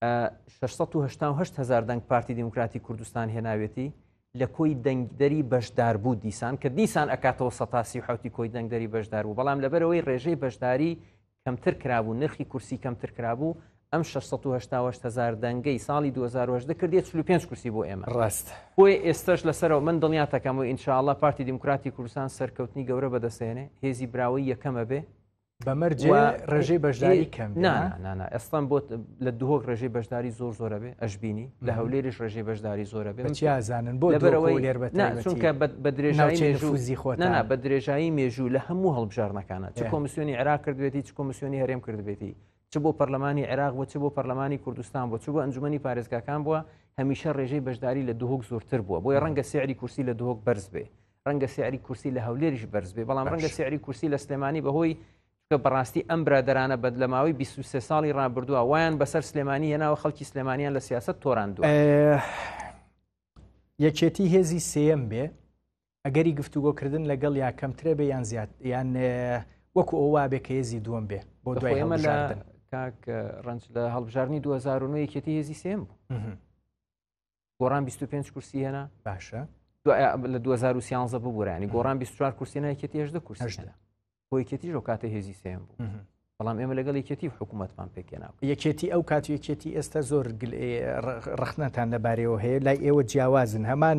6 هزار دەنگ پارتی دیموکراتی کوردستان هێناوێتی لە کۆی دەنگدەری بەشدار بوو دیسان کە دیسان ئەکاتەوە سەتاسی و حوتی کۆی دەنگدەری بەشدار بوو بەڵام لەبەرەوەی ڕێژەی بەشداری کەمتر کرابوو نرخی کورسی کەمتر کرابوو ئەم 6 هزار دەنگەی ساڵی 2010 کردێت 5 کورسی بۆ ئێمە ڕاست بۆی ئێستش لەسەرەوە من دڵنیاتەکەم و ئینشاءله پارتی دیموکراتی کوردستان سەرکەوتنی گەورە بەدەسێنێ هێزی براوەی یەکەمە بێ بە مەرجێ ڕێژەی بەشداری کەم نانە ئەستان بۆ لە دهۆک ڕێژەی بەشداری زۆر زۆرە بێ ئەشببینی لە هەولێریش ڕێژەی بەشداری زۆرە بێ چیازانن بۆ لەبەرەوەی لێر بەچونکە بە درێژای مێژوزی خۆ نانا بە درێژایی مێژوو لە هەموو هەڵبژارنەکانە چ کۆمسیۆنی عراق کردوێتی چ کۆمسیۆنی هەرێم کردبێتی چ بۆ پەرلەمانی عێراق بۆ چ بۆ پەرلەمانی کوردستان بۆ چ بۆ ئەنجومی پارێزگاکان بووە هەمیشە ڕێژەی بەشداری لە دهۆک زۆرتر بووە بۆی ڕەنگە سیعری کورسی لە دهۆک بەرز بێ ڕەنگە سعری کورسی لە هەولێریش بەرز بێ بەڵام ڕەنگە سعری کورسی لە سلێمانی بەهۆی کە بەڕاستی ئەم برادرانە بەد لە ماوەی 23 ساڵی ڕابردووە وایان بەسەر سلێمانی هێناوە خەڵکی سلێمانیان لە سیاست تۆراندوە یەکێتی هێزی سم بێ ئەگەری گفتوگۆکردن لەگەڵ یا کەمترێ بێ یان زیاد یان وەکو ئەو وابێ کە هێزی دووەم بێ بۆ دوای ئەمە لە کاک ڕنج لە هەڵبژارنی 2009 یەکێتی هێزی سێم بوو گۆڕان 25 کورسی هێنا باشە لە 2013 ببورانی گۆڕان 24 کورسی نایکێتی هێشدە کورسشدا بۆیکێتیش و کاتە هێزی سێم بوو بەڵام ئێمە لەگەڵ یەکێتی حکوومەتمان پێکێنا یەکێتی ئەو کات یەکێتی ئێستا زۆر ڕخنەتان لەبارەوە هەیە لای ئێوە جیاوازن هەمان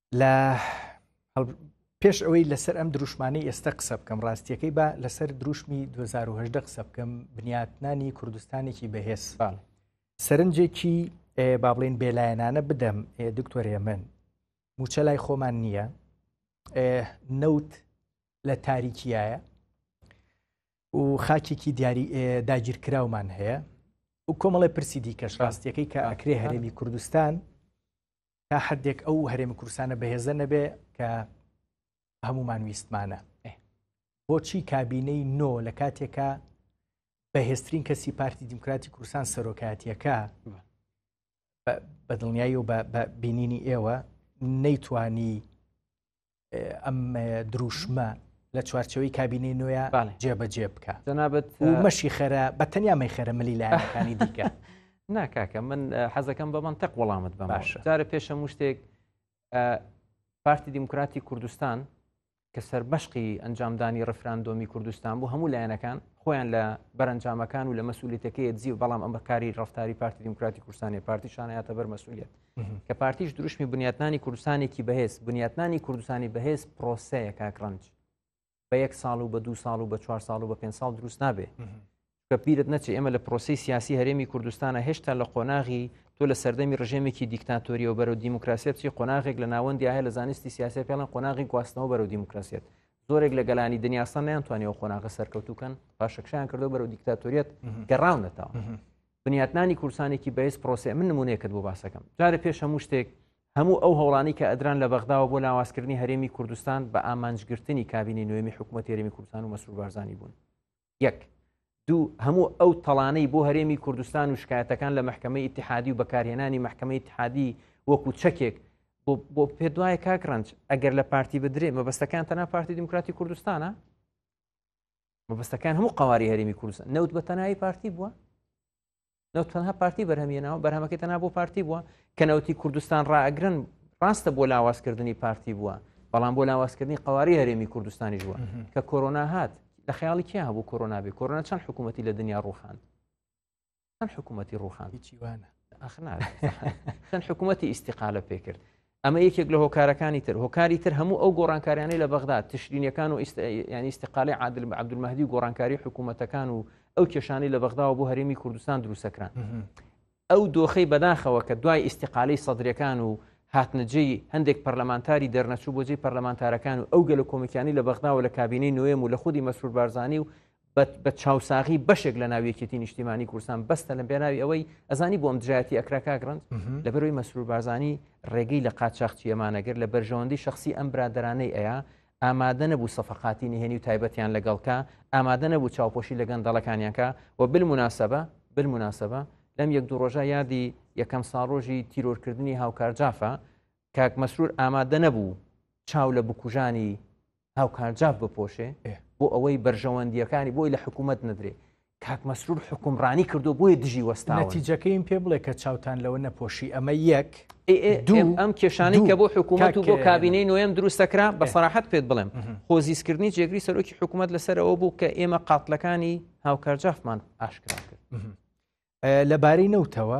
لە پێش ئەوەی لەسەر ئەم دروشمانەی ئێستا قسە بکەم ڕاستیەکەی با لەسەر دروشمی 2010 قسە بکەم بنیاتنانی کوردستانێکی بەهێزفان سەرنجێکی با بڵێن بێلایەنانە بدەم دکتۆرێ من موچە لای خۆمان نییە نەوت لە تاریکیایە و خاکێکی دیاری داگیرکراومان هەیە و کۆمەڵی پرسی دیکەش ڕاستیەکەی کە ئەکرێ هەرێمی کوردستان تا حدێک ئەو هەرێمی کوردستانە بەهێزە نەبێ کە هەمومان ویستمانە بۆچی کابینەی نۆ لە کاتێکە بەهێزترین کەسی پارتی دیموکراتی کوردستان سەرۆکاتیەکە بە دڵنیایی و بە بینینی ئێوە نەیتوانی ئەم دروشمە لە چوارچەوەی کابینەی نوێە جێبەجێ بکە جەنابەت مەشی خەرە بە تەنیا مەی خەرە ملی لایەنەکانی دیکە ناکاکە من حەزەکەم بە منتەق وەڵامت بە باش جارە پێشە شتێک پارتی دیموکراتی کوردستان کە سربەشقی ئەنجامدانی ڕفراندۆمی کوردستان بوو هەموو لایەنەکان خۆیان لە بەرەنجامەکان و لە مەسوولێتەکەی دزی و بەڵام ئەم بەکاری ڕفتاری پارتی دیموکراتی کوردستانی پارتی شانایەتە بەر مەسوولێت کە پارتیش دروشمی بنیاتنانی کوردستانێکی بەهێز بنیاتنانی کوردستانی بەهێز پرۆسەیە کاکڕەنج بە یەک ساڵ و بە دو ساڵ و بە چوار ساڵ و بە پێ ساڵ دروست نابێ کە پیرت نەچێ ئێمە لە پرۆسی سیاسی هەرێمی کوردستانە هێشتا لە قۆناغی تۆ لە سەردەمی ڕژێمێکی دیکتاتۆریەوە بەرەو دیموکراسیت چی قۆناغێک لە ناوەندی هەیە لە زانستی سیاسی پێڵەن قۆناغی گواستنەوە بەرەو دیموکراسیت زۆرێک لە گەلانی دنیاسان نیان توانیەوە قۆناغە سەرکەوتوکەن پاشەکشیان کردو بەرەو دیکتاتۆریت گەڕاونەتەوە بنیاتنانی کورسانێکی بەیس پرۆسێ من نمونونێکت بۆ باسەکەم جارە پێش هەموو شتێک هەموو ئەو هەوڵانی کە ئەدران لە بەغداوە بۆ لاوازکردنی هەرێمی کوردستان بە ئامانجگرتنی کابینی نوێمی حکوومەت هەرێمی کوردستان و مەسرور بارزانانی بوون یەک دوو هەموو ئەو تەڵانەی بۆ هەرێمی کوردستان و شکایەتەکان لە محکمە ئتحادی و بەکارهێنانی محکمە ئتحادی وەکو چەکێک بۆ پێ دوایە کاکڕنج ئەگەر لە پارتی بدرێ مەبەستەکان تەنا پارتی دیموکراتی کوردستانە مەبەستەکان هەموو قواری هەرێمی کوردستان نەوت بە تەنایی پارتی بووە نەوت تەنها پارتی بەرهەمیێنەوە بەرهەمەکە تەنا بۆ پارتی بووە کە نەوتی کوردستان ڕاگرن ڕاستە بۆ لاوازکردنی پارتی بووە بەڵام بۆ لاوازکردنی قواری هەرێمی کوردستانیش بووە کە کۆرۆنا هات لە خیاڵی کیا هەبوو کۆرۆنابی کۆرۆنا چەند حکوومەتتی لە دنیا ڕوخان چەند حکوومەتی ڕوخان هیچی وانە چەند حکوومەتی ئیسیقالە پێکرد ئەمە یەکێک لە هۆکارەکانی تر هۆکاری تر هەموو ئەو گۆڕانکاریانەی لە بەغدا تشرینەکان و ینی ئیسیقالی عادل بە عبدمەدی و گۆڕانکاری حکوومەتەکان و ئەو کێشانی لە بەغداوە بۆ هەرێمی کوردستان دروستەکران ئەو دۆخەی بەداخەوە کە دوای ئیسیقالی سەدرەکان و هاتنجەی هەندێک پەرلەمانتاری دەرنەچوو بۆجێی پەرلەمانتارەکان و ئەو گەلە کۆمیکانی لە بەغداوە لە کابینەی نوێم و لە خودی مەسرور بارزانانی و بە چاوساغی بەشێک لە ناو یەکێتی نیشتیمانی کوردستان بەستە لە بێناوی ئەوەی ئەزانی بۆم دژایەتی ئەکرا کاگرند لە بەروی مەسرور بارزانانی ڕێگەی لە قاچاخچی ئەمانەگر لە بەرژەوەندی شخصی ئەم برادرانەی ئەیە ئامادە نەبوو سەفقاتی نهێنی و تایبەتیان لەگەڵکە ئامادە نەبوو چاوپۆشی لە گەندەڵەکانیانکە و بالمناسبە بالمناسبە لەم یەک دوو ڕۆژە یادی یەکەم ساڕۆژی تیرۆرکردنی هاوکار جافە کاک مەسرور ئامادە نەبوو چاو لە بکوژانی هاوکارجاف بپۆشێ بۆ ئەوەی بەرژەوەندیەکانی بۆی لە حکوومەت نەدرێ کاک مەسرور حکومڕانی کردو بۆیە دژی وەستا نەتیجەکەیم پێ بڵێ کە چاوتان لەوە نەپۆشی ئەمە یەک دوم ئەم کێشانی کە بۆ حکوومەت و بۆ کابینەی نوێم دروستەکرا بە سەراحەت پێت بڵێم خۆزیزکردنی جێگری سەرۆکی حکوومەت لەسەرەوە بوو کە ئێمە قاتلەکانی هاوکارجافمان ئاشکرا کرد لەبارەی نەوتەوە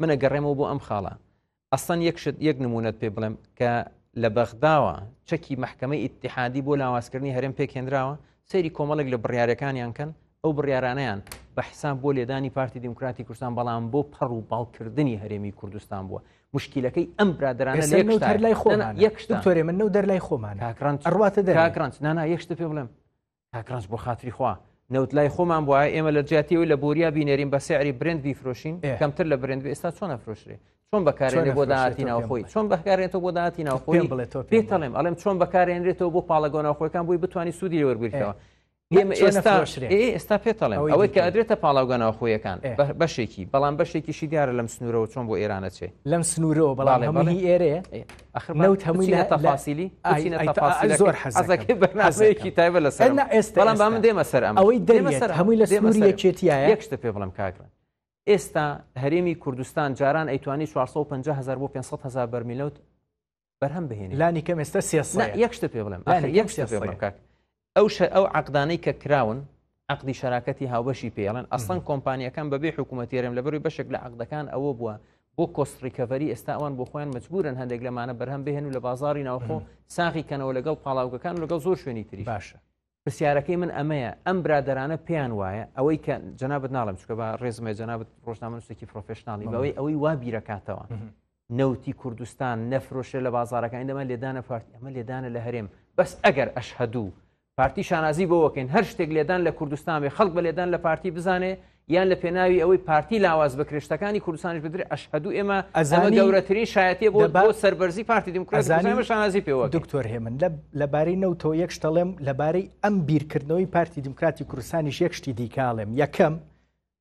من ئەگەڕێمەوە بۆ ئەم خاڵە ئەسان یەک شت یەک نمونەت پێ بڵێم کە لە بەغداوە چەکی مححکەمەی ئیتحادی بۆ لاوازکردنی هەرێم پێکێنراوە سەیری کۆمەڵێک لە بڕارەکانیان کەن ئەو بڕارانیان بە حساب بۆ لێدانی پارتی دیموکراتی کوردستان بەڵام بۆ پەڕ و باڵکردنی هەرێمی کوردستان بووە مشکلەکەی ئەم برادرانە لای خۆمان یەکشتۆرێ من نەو دەرلای خۆمان ئەڕاتە دەکرانس نانا یەکشتە پێ بڵێم کاکڕەنج بۆ خاتری خوا نەوت لای خۆمان بواە ئێمە لە جاتیەوەی لە بۆریا بینێرین بە سعری برند بیفرۆشین کەمتر لە برند ئێستا چۆن نەفرۆشرێ چۆن بەکارێنێ بۆ داهاتی ناوخۆی چۆن بەکارێنێتەوە بۆ داهاتی ناوخۆی پێڵێم ئەڵێم چۆن بەکارێنرێتەوە بۆ پاڵەگۆ ناوخۆەکان بووی بتانی سوودی لێوەرگرتەوە ئێمە ئێستا ئێستا پێتەڵێن ئەوەی کە ئەدرێتە پاڵاوگە ناوخۆیەکان بەشێکی بەڵام بەشێکیشی دیارە لەم سنوورەوە چۆن بۆ ئێرانەچێ لەم سنوورەوە بەڵام هەمانی ئێرێ نەوت هەمووی لە تەفاسیلی زۆر حەزەکە بەنازەیەکی تایبە لە سەر ئێستا بەڵام بە من دێمە سەر ئەم ئەوەی دەرمە سەر هەمووی لە سەموری یەکێتیە یەکشتە پێ بڵم کاگرن ئێستا هەرێمی کوردستان جاران ئەیتوانی 450 هزار بۆ 500 هزار بەرمیلوت بەرهەم بهێن لانی کەم ئێستا سێ یەکشتە پێ بڵم یەکشتە پێ بڵم کاک ئەو شە ئەو عقدانەی کە کراون عقدی شراکەتی هاوبەشی پێڵێن ئەسڵەن کۆمپانیەکان بەبێ حکوومەتێرم لە بەروی بەشێک لە عقدەکان ئەوە بووە بۆ کۆستڕیکەڤری ئێستا ئەوان بۆ خۆیان مجبورن هەندێک لەمانە بەرهەم بهێن و لە بازاری ناوخۆ ساغی کەنەوە لەگەڵ پاڵاوگەکان و لەگەڵ زۆر شوێنی تری باشە پرسیارەکەی من ئەمەیە ئەم برادرانە پێیان وایە ئەوەی کە جنابەت ناڵم چکە بە ڕێزمە جنابەت ڕۆژنامەنووسێکی پرۆفشنناڵی بەوەی ئەوەی وا بیرەکاتەوە نەوتی کوردستان نەفرۆشە لە بازارەکانی دەمە لێدانە پارتی ئەمە لێدانە لە هەرێم بەس ئەگەر ئەشهدوو پارتی شانازی بۆەکەین هەر شتێک لێدان لە کوردستان بێ خەڵک بە لێدان لە پارتی بزانێ یان لە پێناوی ئەوەی پارتی لاواز بە کرێشتەکانی کوردستانش بدرێت ئەشهدوو ئێمە ئەزانە گەورەترین شایەتی بۆ بۆ سەربەرزی پارتی دیموکراتزانمە شانازی پێوە دکتۆر هێمن لە لەبارەی نەوتەوە یەک شتەڵێم لەبارەی ئەم بیرکردنەوەی پارتی دیموکراتی کوردستانیش یەک شتی دیکاڵێم یەکەم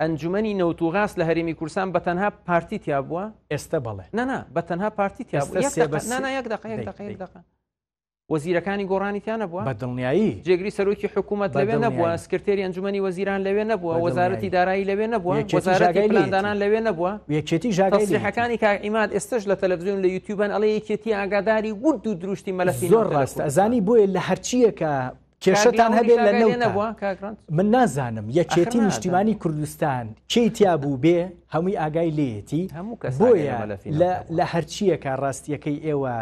ئەنجومەنی نەوت و غاز لە هەرێمی کوردستان بە تەنها پارتی تیا بووە ئێستا بەڵێ نانا بە تەنها پارتی تیا نانایەک دقەکە وەزیرەکانی گۆڕانی تیانە بووە بە دڵنیایی جێگری سەرۆکی حکوومەت لەوێ نەبووە سکرتێری ئەنجومی وەزیران لەوێ نەبووە وەزارەتی دارایی لەوێ نەبووە وەزارەتیلاندانان لەوێ نەبووە یەکێتی ژاگەیەکانی کاعیماد ئێستش لە تەلەڤزیۆن لە یوتیوبەن ئەڵێ یەکێتی ئاگاداری گوت و دروشتی مەلەسی زۆر ڕاستە ئەزانی بۆیە لە هەرچیەکە کێشتان هەبێت لە نەوتان من نازانم یەکێتی نیشتیمانی کوردستان چی تیا بوو بێ هەمووی ئاگای لێتی بۆیە لە هەرچیەکە ڕاستیەکەی ئێوە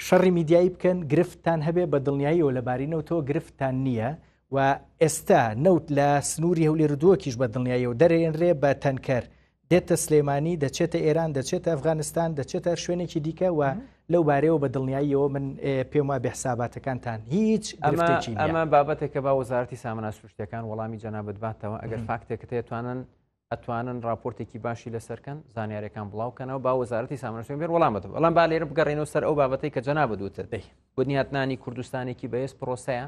شەڕی میدیایی بکەن گرفتان هەبێ بە دڵنیاییەوە لە بارینەوتەوە گرفتان نییە و ئێستا نەوت لە سنووری هەولێر دووەکیش بە دڵنیاییەوە دەرێنرێ بە تەنکەر دێتە سلێمانی دەچێتە ئێران دەچێتە ئەفغانستان دەچێتە هەر شوێنێکی دیکە و لەو بارەیەوە بە دڵنیاییەوە من پێم وا بێحساباتەکانتان هیچ ئەمە بابەتێکە با وەزارتی سامنا سروشتەکان وەڵامی جەنابەت باتەوە ئەگەر فاکتێکە تێتوانن ئەتوانن راپۆرتێکی باشی لەسەرکەن زانیارەکان بڵاوکەنەوە با وەزارەتی سامنەسوێن بێر وەڵامەت بەڵام با لێرە بگەڕێنەوە سەر ئەو بابەتی کە جەنا بدوتت دەی بنیاتنانی کوردستانێکی بەهێز پرۆسەیە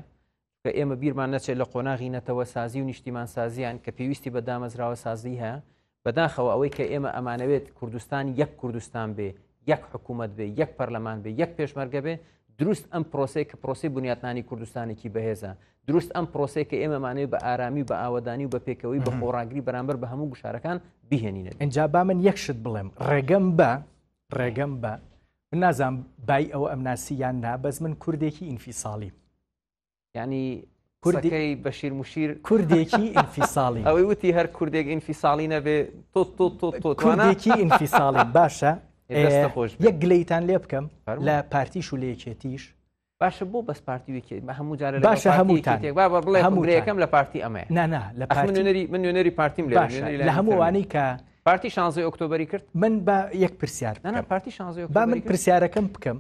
چکە ئێمە بیرمان نەچێت لە قۆناغی نەتەوە سازی و نیشتیمان سازیان کە پێویستی بە دامەزراوە سازی هەیە بەداخەوە ئەوەی کە ئێمە ئەمانەوێت کوردستان یەک کوردستان بێ یەک حکوومەت بێ یەک پەرلەمان بێ یەک پێشمەرگە بێ دروست ئەم پرۆسی کە پرۆسی بنیاتنانی کوردستانێکی بەهێزە دروست ئەم پرۆسی کە ئێمەمانەوە بە ئارامی و بە ئاوادانی و بە پێکەوەی بە خۆڕاگری بەرامبەر بە هەموو گوشارەکان بهێنینە ئەجا با من یەکشت بڵێم ڕێگەم بە ڕێگەم بە من نازان بای ئەوە ئەم ناسییان نا بەس من کوردێکی ئینفیساڵی یعنی کوردەکەی بەشیر مشیر کوردێکی ئینفیساڵی ئەوەی وتی هەر کوردێک ئینفیساڵی نەبێ تۆ تۆ تۆ تۆ توانێکی ئینفیساڵی باشە خۆش یەک گلیتان لێ بکەم لە پارتیش و لەیەکێتیش باشە بۆ بەس پارتی وکێت بە هەموو جارە باشە هەموو بڵێ هەمووەکەم لە پارتی ئەمەیە نانا لە پارتنەری من نوێنەری پارتیم لە هەمووانەی کە پارتی شانزی ئۆکتۆبری کرد من بە یەک پرسیار پارتی شانزی با من پرسیارەکەم بکەم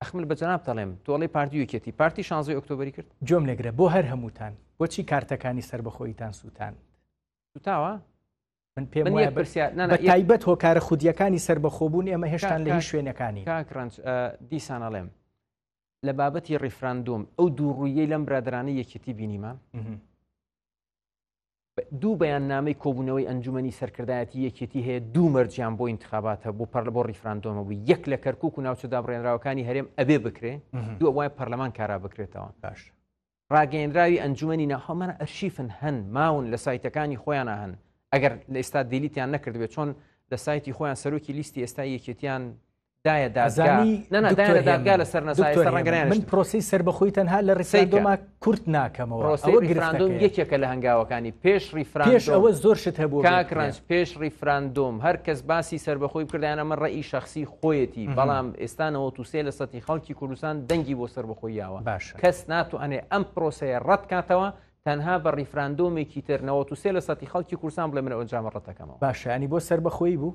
ئەخمل بە جەناب دەڵێم تۆڵی پارتی یەکێتی پارتی شانزی ئۆکتۆبری کرد جۆم لەگرە بۆ هەر هەمووتان بۆچی کارتەکانی سربەخۆیتان سووتان سوتاوە من پێم وایە پرسیار تایبەت هۆکارە خودیەکانی سربەخۆبوون ئێمە هێشتان لە شوێنەکانی کاکرنج دیسانەڵێم لە بابەتی ڕیفراندۆم ئەو دوو ڕوویەی لەم برادرانە یەکێتی بینیمان دوو بەیاننامەی کۆبوونەوەی ئەنجومنی سەرکردایەتی یەکێتی هەیە دوو مەرجیان بۆ انتخاباتە بۆ پەر بۆ ریفراندۆمە بوو یەک لە کەرکک و ناوچە دابڕێنراوەکانی هەرێم ئەبێ بکرێ دووە وای پەرلەمان کارا بکرێتەوە باش ڕاگەیەنراوی ئەنجومی ناخۆمانە ئەرشیفن هەن ماون لە سایتەکانی خۆیان هەن ئەگەر لە ئێستا دیلیتیان نەکردبێت چۆن لە سایتی خۆیان سەرۆکی لیستی ئێستا یەکێتیان دایە دادگا ئەزانی نەنا دکتۆر دایە دادگا هێمن، لەسەر نەسایە دکتۆر سەر ڕەنگە هێمن، من نەیانشتن. پرۆسی سربەخۆی تەنها لە ریفراندۆما کورت ناکەمەوە پرۆسەی ئەوە ریفراندۆم گرفتەکەیە. یەکێکە لە هەنگاوەکانی پێش پێش ریفراندۆم ئەوە زۆر شت هەبوو کاک ڕەنج پێش ریفراندۆم هەر کەس باسی سربەخۆی بکردیانە من ڕێی شخصی خۆیەتی مهم. بەڵام ئێستا 93 لە سەتی خەڵکی کوردستان دەنگی بۆ سربەخۆی یاوە باشە کەس ناتوانێت ئەم پرۆسەیە ڕەت کاتەوە تەنها بە ریفراندۆمێکی تر 93 لە سەتی خەڵکی کوردستان بڵێ من ئەو ئەنجامە ڕەتەکەمەوە باشە ینی بۆ سربەخۆی بوو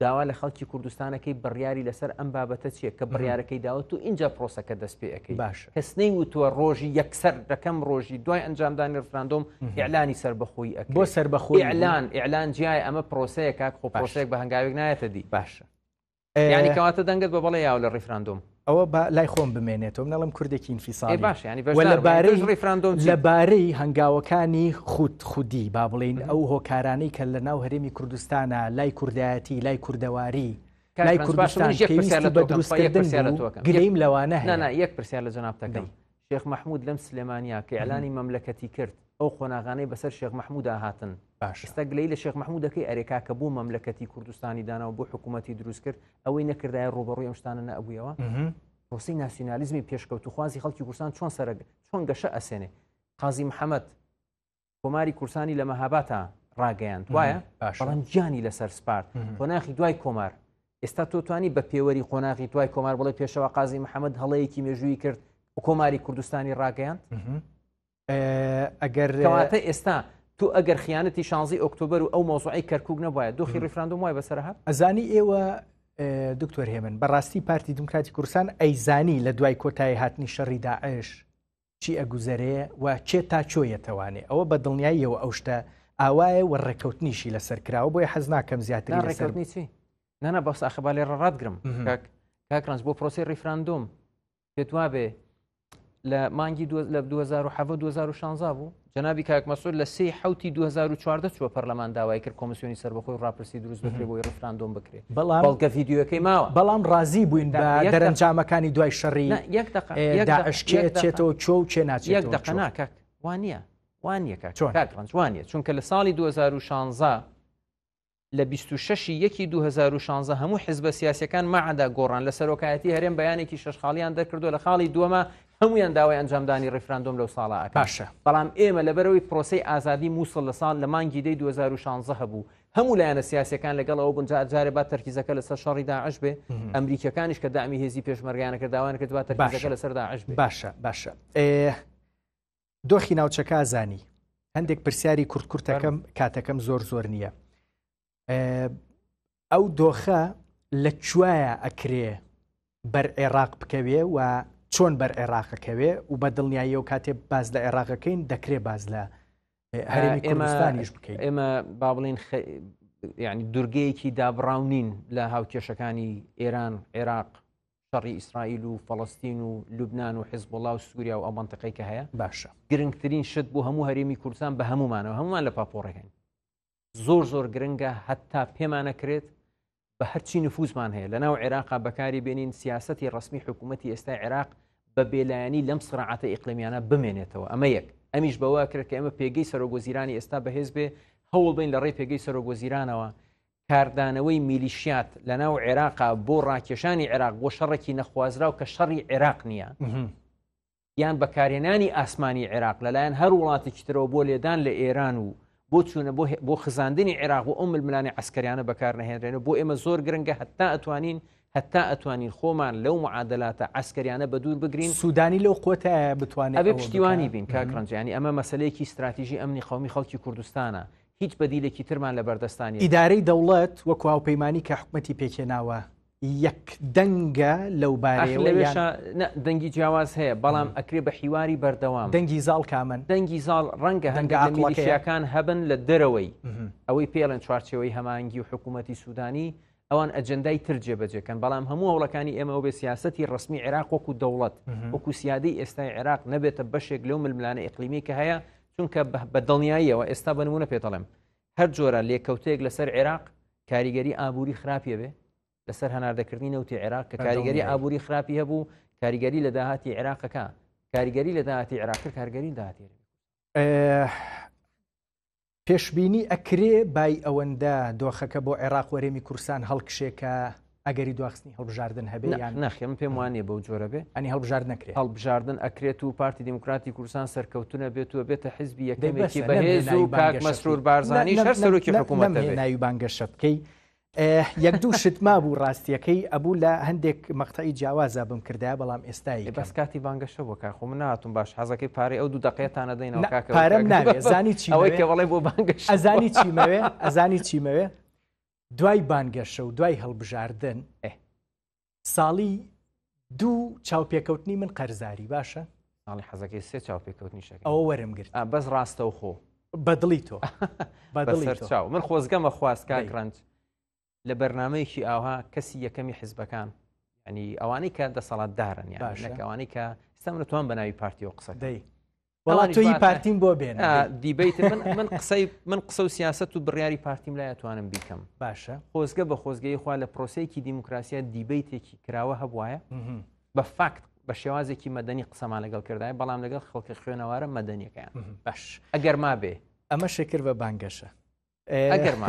داوا لە خەڵکی کوردستانەکەی بڕیاری لەسەر ئەم بابەتە چیە کە بڕیارەکەی داوت و اینجا پرۆسەکە دەست پێەکەی باش کەسنەی وتووە ڕۆژی یەکسەر دەکەم ڕۆژی دوای ئەنجامدانی ڕفراندۆم ئەلانی سربەخۆی ئەک بۆ سربەخۆی ئەلان ئەلان جیای ئەمە پرۆسەیە کاک خۆ پرۆسێک بە هەنگاوێک نایەتە دی باشە ینی کەواتە دەنگت بە بەڵێ یاو لە ڕیفراندۆم ئەوە با لای خۆم بمێنێتەوە من ئەڵێم کوردێکی ئینفیسالی باش یانی بەش وە لەبارەی ڕیفراندۆم لەبارەی هەنگاوەکانی خود خودی با بڵین ئەو هۆکارانەی کە لە ناو هەرێمی کوردستانە لای کوردایەتی لای کوردەواری لای کوردستان پێویستی بە دروستکردن گلەیم لەوانە هەیە یەک پرسیار لە جەنابتەکەم شێخ مەحمود لەم سلێمانیا کە ئیعلانی مەملەکەتی کرد ئەو قۆناغانەی بەسەر شێخ مەحمودا هاتن باشە ئێستا گلەی لە شێخ مەحمود دەکەی ئەرێ کاکە بۆ مەملەکەتی کوردستانی دانا و بۆ حکوومەتی دروست کرد ئەوەی نەکردایە ڕوبەڕوی ئەم شتانە نەبوویەوە مهم. پرۆسی ناسیونالیزمی پێشکەوتوخوازی خەڵکی کوردستان چۆن سەرگ چۆن گەشە ئەسێنێ قازی محەممەد کۆماری کورسانی لە مەهاباتا ڕاگەیان وایە باشڵم گیانی لەسەر سپارت قۆناخی دوای کۆمار ئێستا تۆتوانی بە پێوەری قۆناغی دوای کۆمار بڵێ پێشەوە قازی محەممەد هەڵەیەکی مێژووی کرد کۆماری کوردستانی ڕاگەیاند ئەگەر کەواتە ئێستا تو ئەگەر خیانەتی شانزی ئۆکتۆبر و ئەو مۆزوعی کەرکک نەبواە دۆخی ریفراندۆم وای بەسەرها ئەزانی ئێوە دکتۆر هێمن بەڕاستی پارتی دموکراتی کورسان ئەیزانی لە دوای کۆتایی هاتنی شەڕی داعش چی ئەگوزەرێ و کێ تا کۆ یەتەوانێ ئەوە بە دڵنیاییەوە ئەو شتە ئاوایە و ڕێککەوتنیشی لەسەر کراوە بۆیە حەز ناکەم زیاتری ڕێککەوتنی چی نانا بەس ئاخبا لێ ڕاتگرم کاکڕنج بۆ پرۆسی ریفراندۆم پێت وابێ لە مانگی لە 2016 بوو جەنابی کاک مەسود لە سی حوتی 2014 چوە پەرلەمان داوای کرد کۆمسیۆنی سەربەخۆی ڕاپرسی دروست بکرێ بۆی ڕفراندۆم بکرێت بەڵام بەڵکە ڤیددیوەکەی ماوە بەڵام ڕازی بووین بە دەرەنجامەکانی دوای شەڕی داعشکێتێتەوە چۆ و چێ ناچ یەک دەقەنا کاک وانە وانە کاک ڕنج وانە چونکە لە ساڵی 2016 لە بیست و شەش ی یەکی دوو هەزار و شانزە هەموو حزبە سیاسەکان مەعدا گۆڕان لە سەرۆکایەتی هەرێم بەیانێکی شەش خاڵیان دەرکردو لە خاڵی دووەمە هەمویان داوای ئەنجامدانی ڕیفراندۆم لەو ساڵە ئەکاشە بەڵام ئێمە لەبەرەوەی پرۆسی ئازادی مووسڵ لە ساڵ لە مانگی دەی 2016 هەبوو هەموو لایەنە سیاسەکان لەگەڵ ئەو بنجار جارێ با تەرکیزەکە لەسەر شەڕی داعش بێ ئەمریکەکانیش کە دامی هێزی پێشمەرگیانەکە داوایان کردوە تەرکیزەکە لەسەر داعش باشە باشە دۆخی ناوچەکە زانی هەندێک پرسیاری کورت کورتەکەم کاتەکەم زۆر زۆر نییە ئەو دۆخە لە کوایە ئەکرێ بەر عێراق بکەوێ و چۆن بەر عێراقەکەوێ و بە دڵنیایی و کاتێ باز لە عێراقەکەین دەکرێ باز لە هەرێمی کوردستانیش بکەین ئێمە با بڵین ینی دورگەیەکی دابڕاونین لە هاوکێشەکانی ئێران عێراق شەڕی ئیسرائیل و فەڵەستین و لوبناان و حزبڵا و سووریا و ئەو منطقەی کە هەیە باشە گرنگترین شت بۆ هەموو هەرێمی کوردستان بە هەمومانەوە هەمومان لە پاپۆڕەکەین زۆر زۆر گرنگە هەتا پێمانەکرێت بە هەرچی نفوزمان هەیە لە ناو عێراقا بەکاری بێنین سیاستی ڕسمی حکوومەتتی ئێستا عێراق بە بێلایەنی لەم سرعاتە ئیقلمیانە بمێنێتەوە ئەمە یەک ئەمیش بەوە کرد کە ئێمە پێگەی سەرۆگۆزیرانی ئێستا بەهێز بێ هەوڵ بین لە ڕێ پێگەی سەرۆگۆزیرانەوە کاردانەوەی میلیشیات لە ناو عێراقا بۆ ڕاکێشانی عێراق بۆ شەڕێکی نەخوازراو کە شەڕی عێراق نییە یان بەکارێنانی ئاسمانی عێراق لەلایەن هەر وڵاتێکی ترەوە بۆ لێدان لە ئێران و بۆ چوونە بۆ خزاندنی عێراق و ئەو ململانی عسکەریانە بەکار نەهێنرێن و بۆ ئێمە زۆر گرنگە هەتا ئەتوانین هەتا ئەتوانین خۆمان لەو معادلاتە ئەسکەریانە بە دوور بگرین سوودانی لەو قوتە بتوانێت پشتیوانی بین کاکڕنجانی ئەمە مەسلەیەکی استراتیژی ئەمنی قومی خەڵکی کوردستانە هیچ بەدیلێکی ترمان لەبەردەستدا نیە. ئیدارەی دەوڵەت وەکو هاوپەیمانی کە حکومەتی پێکهێناوە یەک دەنگە لەو بارەیەوە یان؟ نا دەنگی جیاواز هەیە بەڵام ئەکرێ بە حیواری بەردەوام. دەنگی زاڵ کامەن؟ دەنگی زاڵ ڕەنگە هەندێک لە میلیشیاکان هەبن لە دەرەوەی ئەوەی پێڵێن چوارچێوەی هەمانگی و حکومەتی سودانی ئەوان ئەجندای تر جێبەجێکەن بەڵام هەموو هەوڵەکانی ئێمە ئەو بێ سیاستی ڕسمی عێراق وەکو دەوڵەت وەکو سیادی ئێستای عێراق نەبێتە بەشێک لەو ململانە ئەقلیمی کە هەیە چونکە بە دڵنیاییەوە ئێستا بنمونە پێتەڵم هەر جۆرە لێکەوتەیەک لەسەر عێراق کاریگەری ئابووری خراپە بێ لەسەر هەناردەکردنی نەوتی عێراق کە کاریگەری ئابووری خراپی هەبوو کاریگەری لە داهاتی عێراقەکە کاریگەری لە داهاتی عێراق کارگەری داهاتێ پێشبینی ئەکرێ بای ئەوەندە دۆخەکە بۆ عێراق و هەرێمی کورسان هەڵکشێ کە ئەگەری دواخستنی هەڵبژاردن هەبێ یان یان نەخێ من پێم وا نییە بەو جۆرە بێ ئەنی هەڵبژارد نەکرێ هەڵبژاردن ئەکرێت و پارتی دیموکراتی کوردستان سەرکەوتنە بێت و بێتە حزبی دەی بەسە، یەکەمێکی نەمهێنای بەهێز و بانگەشە کاک بکەی. مەسرور بارزانیش هەر سەرۆکی حکوومەتە بێت. ناوی بانگەشە بکەی یەک دوو شت مابوو ڕاستیەکەی ئەبوو لە هەندێک مەقتەعی جیاوازە بم کردای بەڵام ئێستای بەس کاتی بانگەشە بۆ کار خۆ مناتون باش حەزەکەی پارەی ئەو دوو دقێتانە دەینەوە کاکە پارەم ناوێت زانی چی ئەوەی کە بەڵێ بۆ بانگەش ئەزانی چیمەوێ ئەزانی چیمەوێ دوای بانگەشە و دوای هەڵبژاردن ساڵی دوو چاوپێکەوتنی من قەرزاری باشە ساڵی حەزەکەی سێ چاوپێکەوتنی شەکە ئەوە وەرم گرت بەس ڕاستە و خۆ بەدڵی تۆ بەدڵی چاو من خۆزگەمە خواستکە گرنج لە بەرنمەیەکی ئاها کەسی یەکەمی حزبەکان ئەنی ئەوانەی کە دەسەڵات دارن یاژەکەوانەی کە ئستا منتوان بە ناوی پارتی و قسە دەی بەڵام تۆی پارتیم بۆ بێن دیبیت من من قسەی من قسە و سیاست و بڕیاری پارتیم لا توانم بیکەم باشە خۆزگە بە خۆزگەی خوا لە پرۆسەیەکی دیموکراسیە دیبیتێکی کراوە هەبواە بە فاکت بە شێوازێکی مەدەنی قسەمان لەگەڵ کردای بەڵام لەگەڵ خەڵکی خوێنەوارە مەدەنیەکەیان باش ئەگەر ما بێ ئەمە شکر بە بانگەشە ئەگەر ما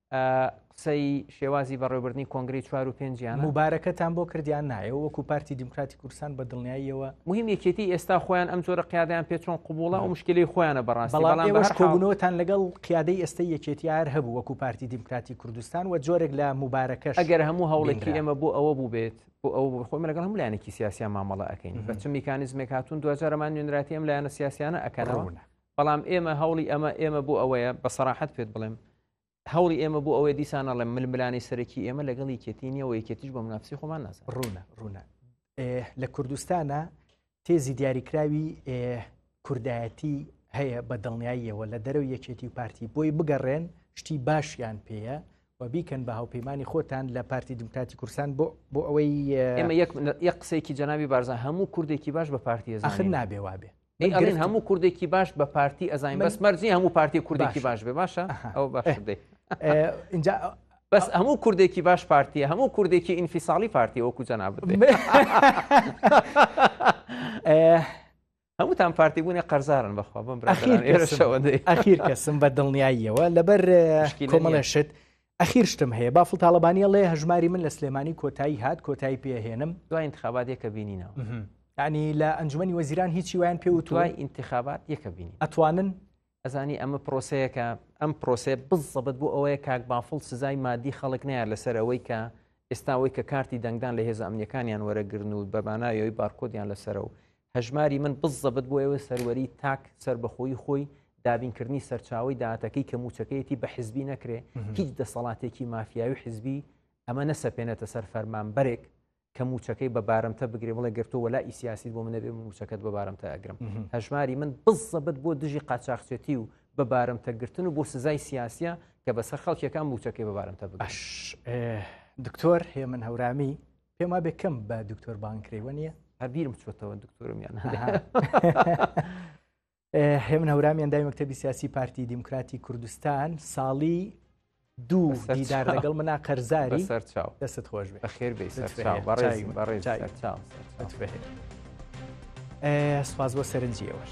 قسەی شێوازی بەڕێوبردننی کۆنگری چوار و پێنجیان مبارەکەتان بۆ کردیان نایە وەکو پارتی دیموکراتی کورسان بە دڵنیاییەوە مهم یەکێتی ئێستا خۆیان ئەم جۆرە قیادیان پێ چۆن قوبوڵە و مشکلی خۆیانە بەڕاستیش کۆبوونەوەتان لەگەڵ قیادەی ئێستا یەکێتی هەر هەبوو وەکو پارتی دیموکراتی کوردستان و جۆرێک لە مبارەکەش ئەگەر هەموو هەوڵێکی ئێمە بۆ ئەوە بوو بێت بۆ ئەو خۆم لەگەڵ هەم لایەنێکی سیاسیا مامەڵە ئەەکەین بەچ میکانزمێک هاتون دوجارەمان نوێنراتی ئەم لایەنە سیاسیانە ئەکەنەوە بەڵام ئێمە هەوڵی ئەمە ئێمە بۆ ئەوەیە بە سەراحەت پێت بڵێم هەوڵی ئێمە بۆ ئەوەی دیسان ئەڵێم ململانەی سەرەکی ئێمە لەگەڵ یەکێتی نیە و یەکێتیش بۆ منافسی خۆمان ناز ڕوونە ڕوونە لە کوردستانە تێزی دیاریکراوی کوردایەتی هەیە بە دڵنیاییەوە لە دەرەوە یەکێتی و پارتی بۆی بگەڕێن شتی باشیان پێەیە و بیکەن بە هاوپەیمانانی خۆتان لە پارتی دموکراتی کورسان بۆ بۆ ئەوەی ئێمە یەک قسێکی جەناوی بارزان هەموو کوردێکی باش بە پارتی ئەخر نابێ وابێ من ئەڵێن گرفتم. هەموو کوردێکی باش بە پارتی ئەزانین من- بەس مەرج نییە هەموو پارتی کوردێکی باشە. باش بێ باشە ئەها. ئەو باش ئه. دەی ئێ، ئینجا بەس هەموو کوردێکی باش پارتیە هەموو کوردێکی ئینفیساڵی پارتی وەکو جەنابت دێ. ئێ، هەمووتان پارتی بوونێ قەرزارن بەخوا بم ئەخیر کەسم. ئێرەشەوە دەی ئەخیر کەسم بە دڵنیاییەوە لەبەر ئه، مشکیلە کۆمەڵێ نییە. شت ئەخیر شتم هەیە بافڵ تاڵەبانی ئەڵێ هەژماری من لە سلێمانی کۆتایی هات کۆتایی پێ هێنم. دوای ئینتخابات یەکە بینینەوە. یانی لە ئەنجومەنی وەزیران هیچی وایان پێ وتووە؟ دوای ئینتخابات یەکە بینی. ئەتوانن؟ ئەزانی ئەمە پرۆسەیەکە ئەم پرۆسەیە بزەبت بۆ ئەوەیە کاک بافڵ سزای مادی خەڵک نەیار لەسەر ئەوەی کە ئێستا ئەوەی کە کارتی دەنگدان لە هێزە ئەمنیەکانیان وەرەگرن و بەمانایەوەی بارکۆدیان لەسەرە و هەژماری من بزەبت بۆ ئێوە سەروەری تاک سەربەخۆیی خۆی دابینکردنی سەرچاوی دااتەکەی کە موچەکەیەتی بە حزبی نەکرێ هیچ دەسەڵاتێکی مافیاوی حزبی ئەمە نەسەپێنێتە سەر فەرمان بەرێک کە موچەکەی بە بارمتە بگرێ بڵێ گرتو وەلا ئیسیاسی بۆ منەبێ موچەکەت بە بارمتە ئەگرم هەژماری من بزەبت بۆ دژی قاچاخچێتی و بە بارمتەگرتن و بۆ سزای سیاسە کە بەسەر خەڵکیەکان موچەکەی بە بارمتە باش دکتۆر هێمن هەورامی پێم وابێ کەم بە دکتۆر بانکرێوە نییە هەبیرم چۆتەوە دکتۆرمیان هێمن هەورامیان دای مەکتتەبی سیاسی پارتی دیموکراتی کوردستان ساڵی دوو دیدار لەگەڵ منا قەرزاری سەر چاو دەست خۆش بێ خێر بێ سەر چاو بەڕێز بەڕێز سەر چاو سپاس بۆ سەرنجیەوەش